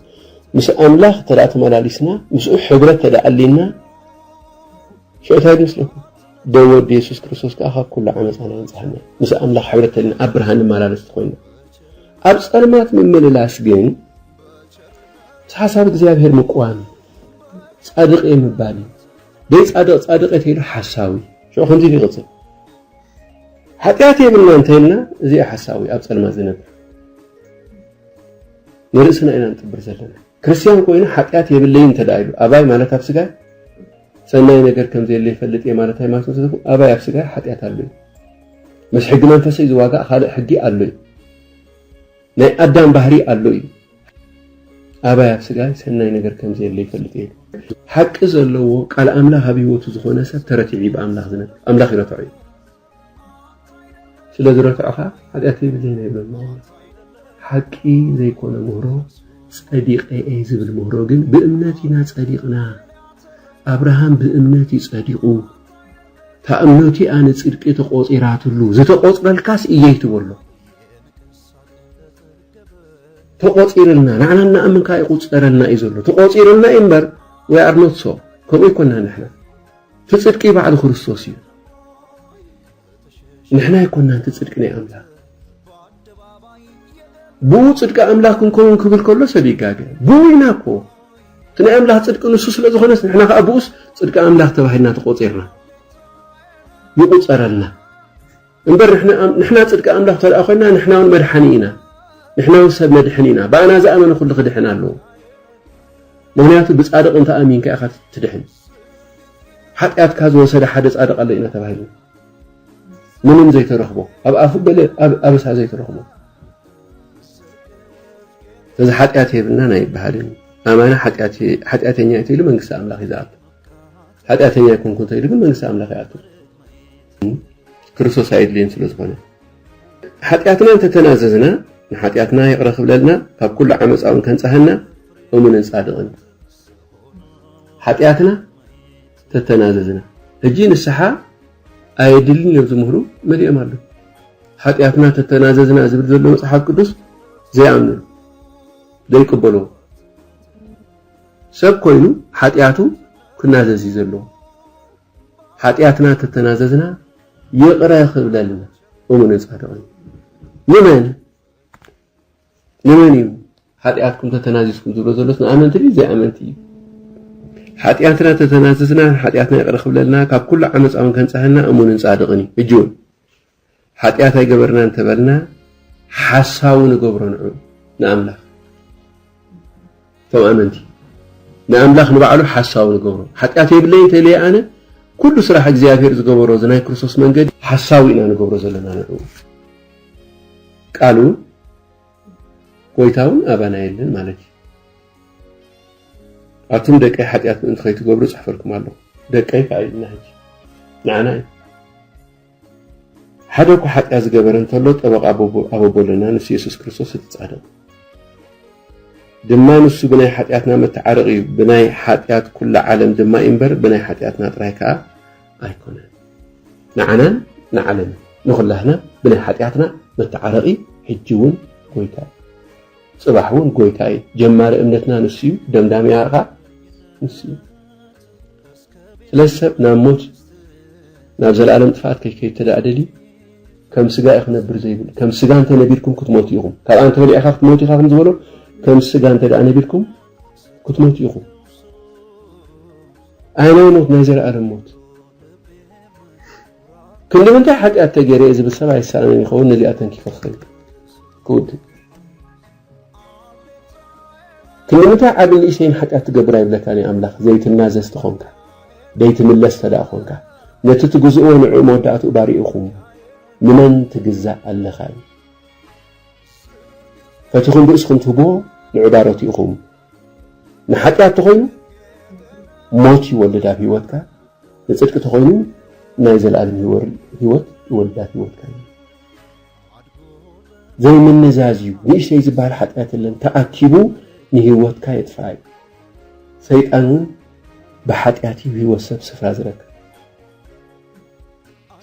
ምስ ኣምላኽ እንተ ተመላሊስና ምስኡ ሕብረት ተደኣ ኣሊና ሽዑ እንታይ ይመስለኩም ብ ወዲ የሱስ ክርስቶስ ከኣ ካብ ኩሉ ዓመጻና የንጽሃና ምስ ኣምላኽ ሕብረት ተልና ኣብ ብርሃን ንመላለስ ተኾይና ኣብ ጸልማት ምምልላስ ግን ምስ ሓሳብ እግዚኣብሔር ምቅዋም ጻድቅ እየ ምባል እዩ ደይ ጻድቅ ጻድቅ እየ ተይሉ ሓሳዊ ሽዑ ከምዚ ኢሉ ይቕጽል ሓጢኣት የብልና እንተይልና እዚ ሓሳዊ ኣብ ጸልማት ዝነብር ንርእስና ኢና ንጥብር ዘለና ክርስትያን ኮይነ ሓጥያት የብለይን እንተድኣ ኢሉ ኣባይ ማለት ኣብ ስጋይ ሰናይ ነገር ከም ዘየለ ይፈልጥ እየ ማለት ሃይማኖት እንተዘይኮ ኣባይ ኣብ ስጋይ ሓጥያት ኣሎ እዩ ምስ ሕጊ መንፈሰይ ዝዋጋእ ካልእ ሕጊ ኣሎ እዩ ናይ ኣዳም ባህሪ ኣሎ እዩ ኣባይ ኣብ ስጋይ ሰናይ ነገር ከም ዘየለ ይፈልጥ እየ ሓቂ ዘለዎ ቃል ኣምላኽ ኣብ ህይወቱ ዝኾነ ሰብ ተረቲዑ ብኣምላኽ ዝነብ ኣምላኽ ይረትዖ እዩ ስለ ዝረታዕኻ ሓጢኣት የብለይን ኣይብለን ጳውሎስ። ሓቂ ዘይኮነ ምህሮ ጸዲቐ እየ ዝብል ምህሮ ግን ብእምነት ኢና ጸዲቕና። ኣብርሃም ብእምነት እዩ ጸዲቑ። እታ እምነቱ እያ ንጽድቂ ተቖጺራትሉ። ዝተቖጽረልካስ እየይ ትበሎ ተቖጺርልና ንዓና እናኣምንካ ይቑጸረልና እዩ ዘሎ ተቖጺርልና እዩ እምበር ወይ ኣርኖት ሶ ከምኡ ይኮና ንሕና እቲ ጽድቂ ባዕሉ ክርስቶስ እዩ ንሕና ኣይኮናን እቲ ጽድቂ ናይ ኣምላኽ ብኡ ጽድቂ ኣምላኽ ክንከውን ክብል ከሎ ሰብ ይጋገ ብኡ ኢና እኮ እቲ ናይ ኣምላኽ ጽድቂ ንሱ ስለ ዝኾነስ ንሕና ከዓ ብኡስ ጽድቂ ኣምላኽ ተባሂልና ተቆፂርና ይቑፀረልና እምበር ንሕና ንሕና ጽድቂ ኣምላኽ እንተ ኮይንና ንሕና ውን መድሓኒ ኢና ንሕና ውን ሰብ ነድሕን ኢና ብኣና ዝኣመነ ኩሉ ክድሕን ኣለዎ ምክንያቱ ብጻድቕ እንተ ኣሚንካ ኢኻ ትድሕን ሓጢኣትካ ዝወሰደ ሓደ ጻድቕ ኣሎ ኢና ተባሂሉ ምንም ዘይተረኽቦ ኣብ ኣፉ ገለ ኣበሳ ዘይተረኽቦ እዚ ሓጢኣት የብልናን ኣይበሃልን ኣማና ሓጢኣተኛ ኢሉ መንግስቲ ኣምላኽ ይዝኣቱ ሓጢኣተኛ ኣይኮንኩ እንተኢሉ ግን መንግስቲ ኣምላኽ ይኣቱ ክርስቶስ ኣየድልየን ስለ ዝኾነ ሓጢኣትና እንተተናዘዝና ንሓጢኣትና ይቕረ ክብለልና ካብ ኩሉ ዓመፃ እውን ከንፀሃና እሙንን ፃድቕን ሓጢኣትና ተተናዘዝና ሕጂ ንስሓ ኣየድልን እዮም ዝምህሩ መሊኦም ኣለዉ ሓጢኣትና ተተናዘዝና ዝብል ዘሎ መፅሓፍ ቅዱስ ዘይኣምኑ ዘይቅበልዎ ሰብ ኮይኑ ሓጢኣቱ ክናዘዝ እዩ ዘለዎ ሓጢኣትና ተተናዘዝና ይቕረ ክብለልና እሙንን ጻድቕን ንመን ንመን እዩ ሓጢኣትኩም ተተናዚዝኩም ዝብሎ ዘሎስ ንኣመንቲ ድዩ ዘይኣመንቲ እዩ ሓጢኣትና ተተናዘዝና ሓጢኣትና ይቕረ ክብለልና ካብ ኩሉ ዓመፃውን ከንፀሃና እሙንን ጻድቕን እዩ እጅውን ሓጢኣት ኣይገበርና እንተበልና ሓሳዊ ንገብሮ ንዑ ንኣምላኽ እቶም ኣመንቲ ንኣምላኽ ንባዕሉ ሓሳዊ ንገብሮ ሓጢኣት የብለይ እንተኢለየ ኣነ ኩሉ ስራሕ እግዚኣብሄር ዝገበሮ እዚ ናይ ክርስቶስ መንገዲ ሓሳዊ ኢና ንገብሮ ዘለና ንዑ ቃሉ ጎይታ እውን ኣባና የለን ማለት እዩ ኣቱም ደቀይ ሓጢኣት ምእንቲ ከይትገብሩ ፅሕፈልኩም ኣለኹ ደቀይ ከዓ ኢልና ሕጂ ንዓና እዩ ሓደ እኳ ሓጢኣት ዝገበረ እንተሎ ጠበቓ ኣበቦ ኣለና፣ ንሱ የሱስ ክርስቶስ እቲ ጻድቕ ድማ ንሱ ብናይ ሓጢኣትና መተዓረቒ እዩ፣ ብናይ ሓጢኣት ኩላ ዓለም ድማ እዩ እምበር ብናይ ሓጢኣትና ጥራይ ከኣ ኣይኮነን። ንዓናን ንዓለምን ንኹላህና ብናይ ሓጢኣትና መተዓረቒ ሕጂ እውን ጎይታ እዩ። ጽባሕ እውን ጎይታ እዩ። ጀማሪ እምነትና ንሱ እዩ፣ ደምዳሚኣ ኸኣ ንሱ እዩ። ስለዚ ሰብ ናብ ሞት ናብ ዘለኣለም ጥፍኣት ከይከይድ ተደኣ ደልዩ ከም ስጋ እዩ ክነብር ዘይብሉ ከም ስጋ እንተ ነቢርኩም ክትሞቱ ኢኹም ካብኣ እንተ በሊዕካ ክትሞት ኢኻ ከም ዝበሎ ከም ስጋ እንተ ደኣ ነቢርኩም ክትሞቱ ኢኹም ኣየናይ ሞት ናይ ዘለኣለም ሞት ክንዲ ምንታይ ሓጢኣት ተገይረ ዝብል ሰብ ኣይሰኣንን ይኸውን ነዚኣ ተንኪፈ ክኸይድ ክውድእ ክንድምንታይ ዓብን ንእሽተይን ሓጢኣት ትገብር ኣይብለካን እዩ ኣምላኽ ዘይትናዘዝ ተኾንካ ደይትምለስ ተደኣ ኮንካ ነቲ ትግዝእዎ ንዕኡ መወዳእትኡ ባሪኡኹም ንመን ትግዛእ ኣለኻ እዩ ፈቲኹም ርእስኹም ትህብዎ ንዑ ባሮት ኢኹም ንሓጢኣት ተኾይኑ ሞት ይወልድ ኣብ ህይወትካ ንፅድቂ ተኾይኑ ናይ ዘለኣለም ህይወት ይወልድ ኣብ ህይወትካ እዩ ዘይምንዛዝ እዩ ንእሽተይ ዝባሃል ሓጥያት የለን ተኣኪቡ ንሂወትካ የጥፍኣ እዩ ሰይጣን እውን ብሓጥያት እዩ ሂወት ሰብ ስፍራ ዝረክብ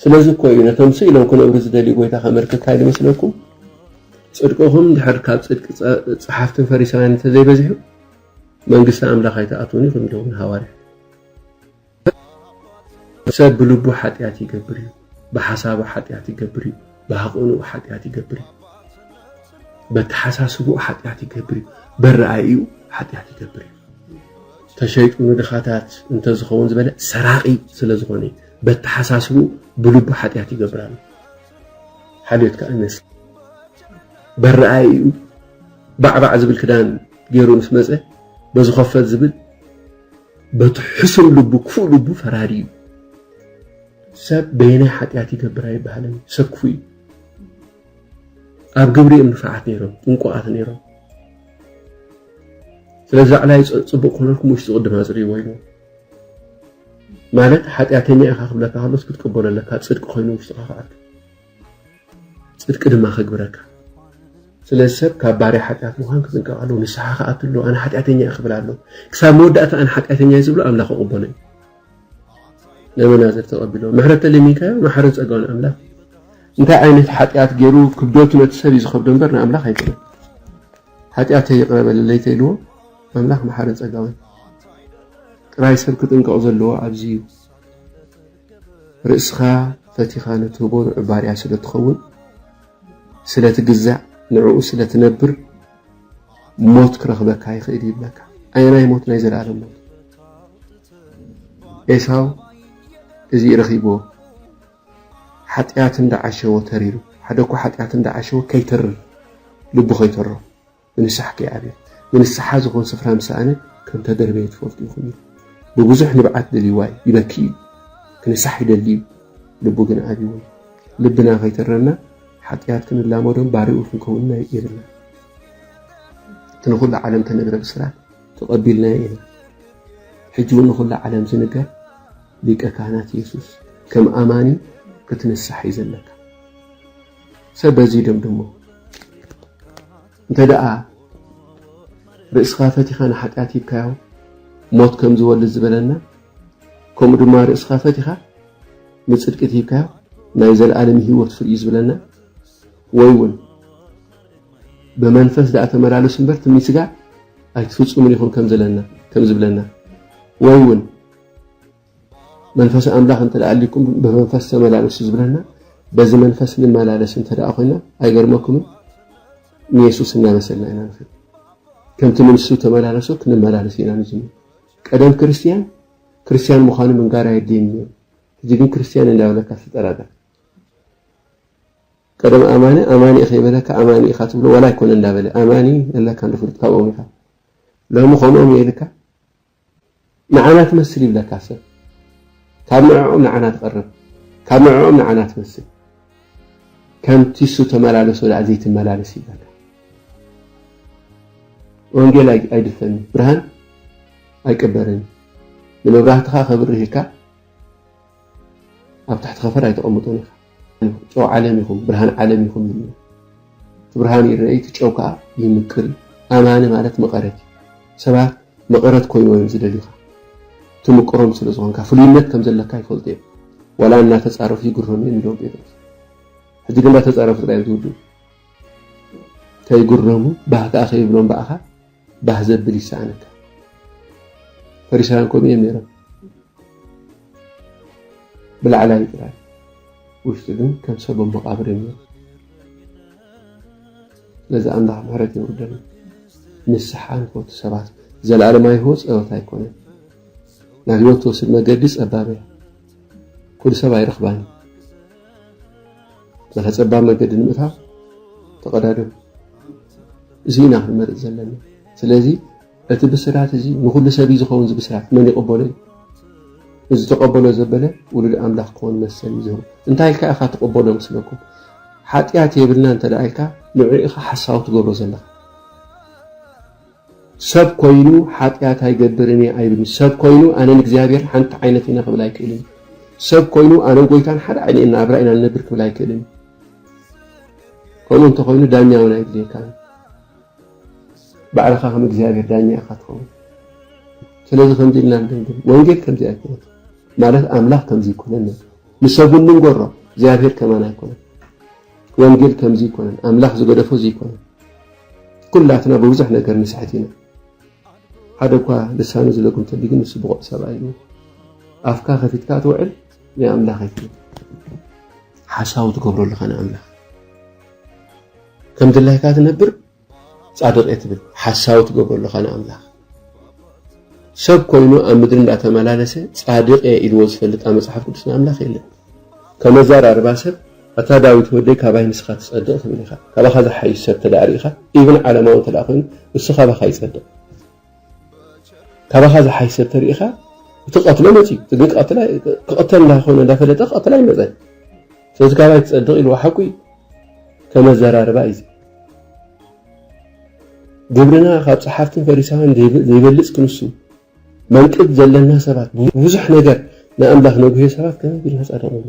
ስለዚ እኮ እዩ ነቶም ስ ኢሎም ክነብሩ ዝደልዩ ጎይታ ከመልክት ታይ ዝመስለኩም ጽድቅኹም እንድሕር ካብ ጽድቂ ጸሓፍትን ፈሪሳውያን እንተዘይበዚሑ መንግስቲ ኣምላኽ ኣይትኣትዉን ኢኹም ኢልዎም ንሃዋርያት ሰብ ብልቡ ሓጢኣት ይገብር እዩ፣ ብሓሳቡ ሓጢኣት ይገብር እዩ፣ ብሃቐንኡ ሓጢኣት ይገብር እዩ፣ በተሓሳስብኡ ሓጢኣት ይገብር እዩ፣ በረኣይኡ ሓጢኣት ይገብር እዩ። ተሸይጡ ንድኻታት እንተዝኸውን ዝበለ ሰራቂ ስለ ዝኾነ እዩ። በተሓሳስብኡ ብልቡ ሓጢኣት ይገብር ኣሎ። ሓልዮት ከዓ ይመስል በረኣይኡ ባዕባዕ ዝብል ክዳን ገይሩ ምስ መፀ በዝኸፈት ዝብል በቲ ሕሱር ልቡ ክፉእ ልቡ ፈራዲ እዩ። ሰብ በየናይ ሓጢኣት ይገብር ኣይበሃልን እዩ። ሰብ ክፉእ እዩ። ኣብ ግብሪ እዮም ንፋዓት ነይሮም፣ ጥንቁቓት ነይሮም። ስለዚ ዕላይ ፅቡቕ ክኾነልኩም ውሽጢ ቅድም ኣፅርይዎ ኢሉ ማለት ሓጢኣተኛ ኢኻ ክብለካ ከሎስ ክትቅበሎ ኣለካ ፅድቂ ኮይኑ ውሽጥኻ ክኣቱ ጽድቂ ድማ ከግብረካ። ስለዚ ሰብ ካብ ባርያ ሓጢኣት ምዃን ክጥንቀቕ ኣለዎ። ንስሓ ክኣቱ ኣለዎ። ኣነ ሓጢኣተኛ እየ ክብል ኣለዎ። ክሳብ መወዳእታ ኣነ ሓጢኣተኛ እየ ዝብሎ ኣምላኽ ክቕበሎ እዩ። ነመናዝር ተቐቢሎ ምሕረት ተለሚንካዮ መሓርን ጸጋውን ኣምላኽ እንታይ ዓይነት ሓጢኣት ገይሩ ክብደቱ ነቲ ሰብ እዩ ዝኸብዶ እምበር ንኣምላኽ ኣይኮነን። ሓጢኣተይ ይቕረ በለለይ ተኢልዎ ኣምላኽ መሓርን ጸጋውን ጥራይ ሰብ ክጥንቀቕ ዘለዎ ኣብዚ እዩ። ርእስኻ ፈቲኻ ንትህቦ ንዑ ባርያ ስለ ትኸውን ስለ ትግዛእ ንዕኡ ስለ ትነብር ሞት ክረኽበካ ይኽእል ይብለካ ኣየናይ ሞት ናይ ዘለኣለም ሞት ኤሳው እዚ ረኺብዎ ሓጢኣት እንዳዓሸዎ ተሪሩ ሓደ እኮ ሓጢኣት እንዳዓሸዎ ከይተርር ልቡ ከይተሮ ብንሳሕ ከይዓብየ ንንስሓ ዝኾን ስፍራ ምስ ሰኣነ ከም ተደርበየ ትፈልጡ ኢኹም ኢሉ። ብብዙሕ ንብዓት ደልዩዋ'ዩ፣ ይበኪ'ዩ፣ ክንሳሕ ይደሊ'ዩ፣ ልቡ ግን ዓብዩዎ'ዩ። ልብና ከይተረና ሓጥያት ክንላመዶን ባርኡ ክንከውንን የብልናን። እቲ ንኹላ ዓለም እተነግረ ብስራት ተቐቢልናዮ ኢና። ሕጂ'ውን ንኹላ ዓለም ዝንገር ሊቀ ካህናት የሱስ ከም ኣማኒ ክትንሳሕ'ዩ ዘለካ። ሰብ በዚ ይደምድሞ። እንተደኣ ርእስኻ ፈቲኻ ንሓጢኣት ሂብካዮ ሞት ከም ዝወልድ ዝበለና ከምኡ ድማ ርእስኻ ፈቲኻ ንጽድቂ ሂብካዮ ናይ ዘለኣለም ህይወት ፍርዩ ዝብለና ወይ እውን ብመንፈስ ደኣ ተመላለሱ እምበር ትምኒት ስጋ ኣይትፍጽሙን ኢኹም ከም ዝብለና ወይ እውን መንፈስ ኣምላኽ እንተ ኣልይኩም ብመንፈስ ተመላለሱ ዝብለና በዚ መንፈስ ንመላለስ እንተ ኮይና ኣይገርመኩምን ንየሱስ እናመሰልና ኢና ንኸድ ከምቲ ንሱ ተመላለሶ ክንመላለስ ኢና ንጅምር ቀደም ክርስትያን ክርስትያን ምዃኑ ምንጋር ኣየድልየን ነይሩ ሕጂ ግን ክርስትያን እንዳበለካ ትጠራጠር ቀደም ኣማኒ ኣማኒ ኢኸ ይበለካ ኣማኒ ኢኻ ትብሎ ዋላ ኣይኮነ እንዳበለ ኣማኒ ኣለካ ንፍሉጥ ካብኦም ኢኻ ሎሚ ከምኦም የኢልካ ንዓና ትመስል ይብለካ ሰብ ካብ ንዕኦም ንዓና ትቐርብ ካብ ንዕኦም ንዓና ትመስል ከም ቲሱ ተመላለሶ ዳኣ ዘይትመላለስ ይብለካ ወንጌል ኣይድፈን እዩ ብርሃን ኣይቅበርን እዩ ንመብራህትኻ ከብርህ ኢልካ ኣብ ትሕቲ ከፈር ኣይተቐምጦን ኢኻ ጨው ዓለም ኢኹም ብርሃን ዓለም ኢኹም እዩ እቲ ብርሃን ይረአይ እቲ ጨው ከዓ ይምቅር እዩ ኣማኒ ማለት መቐረት እዩ ሰባት መቐረት ኮይኑ እዮም ዝደልዩኻ ትምቅሮም ስለ ዝኾንካ ፍሉይነት ከም ዘለካ ይፈልጡ እዮም ዋላ እናተፃረፉ ይግረሙ እዮም ኢሎም ጴጥሮስ ሕጂ ግን እንዳተፃረፉ ጥራይ እዮም ዝውድኡ ከይግረሙ ባህ ከዓ ከይብሎም በኣኻ ባህ ዘብል ይሰኣነካ ፈሪሳውያን ከምኡ እዮም ነይሮም ብላዕላይ ጥራይ ውሽጢ ግን ከም ሰብ ኣብ መቃብር እዮም ነይሮም ስለዚ ኣምላኽ ምሕረት የውርደልና ንስሓ ንፈቱ ሰባት ዘለኣለማዊ ህይወት ፀወታ ኣይኮነን ናብ ህይወት ትወስድ መገዲ ፀባብ እያ ኩሉ ሰብ ኣይረኽባን እዩ በታ ፀባብ መገዲ ንምእታው ተቐዳደሙ እዚ ኢና ክንመርፅ ዘለና ስለዚ እቲ ብስራት እዚ ንኩሉ ሰብ እዩ ዝኸውን እዚ ብስራት መን ይቕበሎ እዩ እዚ ተቐበሎ ዘበለ ውሉድ ኣምላኽ ክኾን መሰል እዩ ዝህቡ እንታይ ኢልካ ኢኻ ትቕበሎ ምስለኩም ሓጢኣት የብልና እንተ ኢልካ ንዑ ኢኻ ሓሳዊ ትገብሮ ዘለኻ ሰብ ኮይኑ ሓጥያት ኣይገብርን እየ ኣይብልን። ሰብ ኮይኑ ኣነን እግዚኣብሄርን ሓንቲ ዓይነት ኢና ክብል ኣይክእልን። ሰብ ኮይኑ ኣነን ጎይታን ሓደ ዓይነት ናብራ ኢና ንነብር ክብል ኣይክእልን። ከምኡ እንተኾይኑ ዳኛ እውን ኣይድልየካን። ባዕልኻ ከም እግዚኣብሄር ዳኛ ኢኻ ትኸውን። ስለዚ ከምዚ ኢልና ንደምድም፣ ወንጌል ከምዚ ኣይኮነት ማለት ኣምላኽ ከምዚ ኣይኮነን ንሰብ እውን ንንገሮ እግዚኣብሄር ከማን ኣይኮነን። ወንጌል ከምዚ ኣይኮነን ኣምላኽ ዝገደፎ ዘይኮነን ኩላትና ብብዙሕ ነገር ንስሕት ኢና ሓደ እኳ ልሳኑ ዝለጉም ተሊ ግን ንሱ ብቑዕ ሰብኣ ኢሉ ኣፍካ ከፊትካ ትውዕል ናይ ኣምላኽ ኣይኮነ ሓሳዊ ትገብሮ ኣለኻ ንኣምላኽ ከም ድላይካ ትነብር ጻድቕ እየ ትብል ሓሳዊ ትገብሮ ኣለኻ ንኣምላኽ ሰብ ኮይኑ ኣብ ምድሪ እንዳተመላለሰ ጻድቕ እየ ኢልዎ ዝፈልጥ ኣብ መጽሓፍ ቅዱስ ንኣምላኽ የለን ከመዛራርባ ሰብ ኣታ ዳዊት ወደይ ካባይ ንስኻ ትጸድቕ ትብል ኢኻ ካባኻ ዝሓይሽ ሰብ ተዳኣ ርኢኻ ኢብን ዓለማዊ እንተዳኣ ኮይኑ እሱ ካባኻ ይጸድቕ ካባኻ ዝሓይሽ ሰብ ተሪኢኻ እትቐትሎ መፂኡ እቲ ግን ክቕተል እንዳኾነ እንዳፈለጠ ክቐትል ኣይመፀን ስለዚ ካባይ ትፀድቕ ኢልዎ ሓቁ እዩ ከም ኣዘራርባ እዩ ግብርና ካብ ፀሓፍትን ፈሪሳውያን ዘይበልፅ ክንሱ መንቅብ ዘለና ሰባት ብዙሕ ነገር ንኣምላኽ ነጉሄ ሰባት ከመይ ቢልና ፃድቕ ንብሎ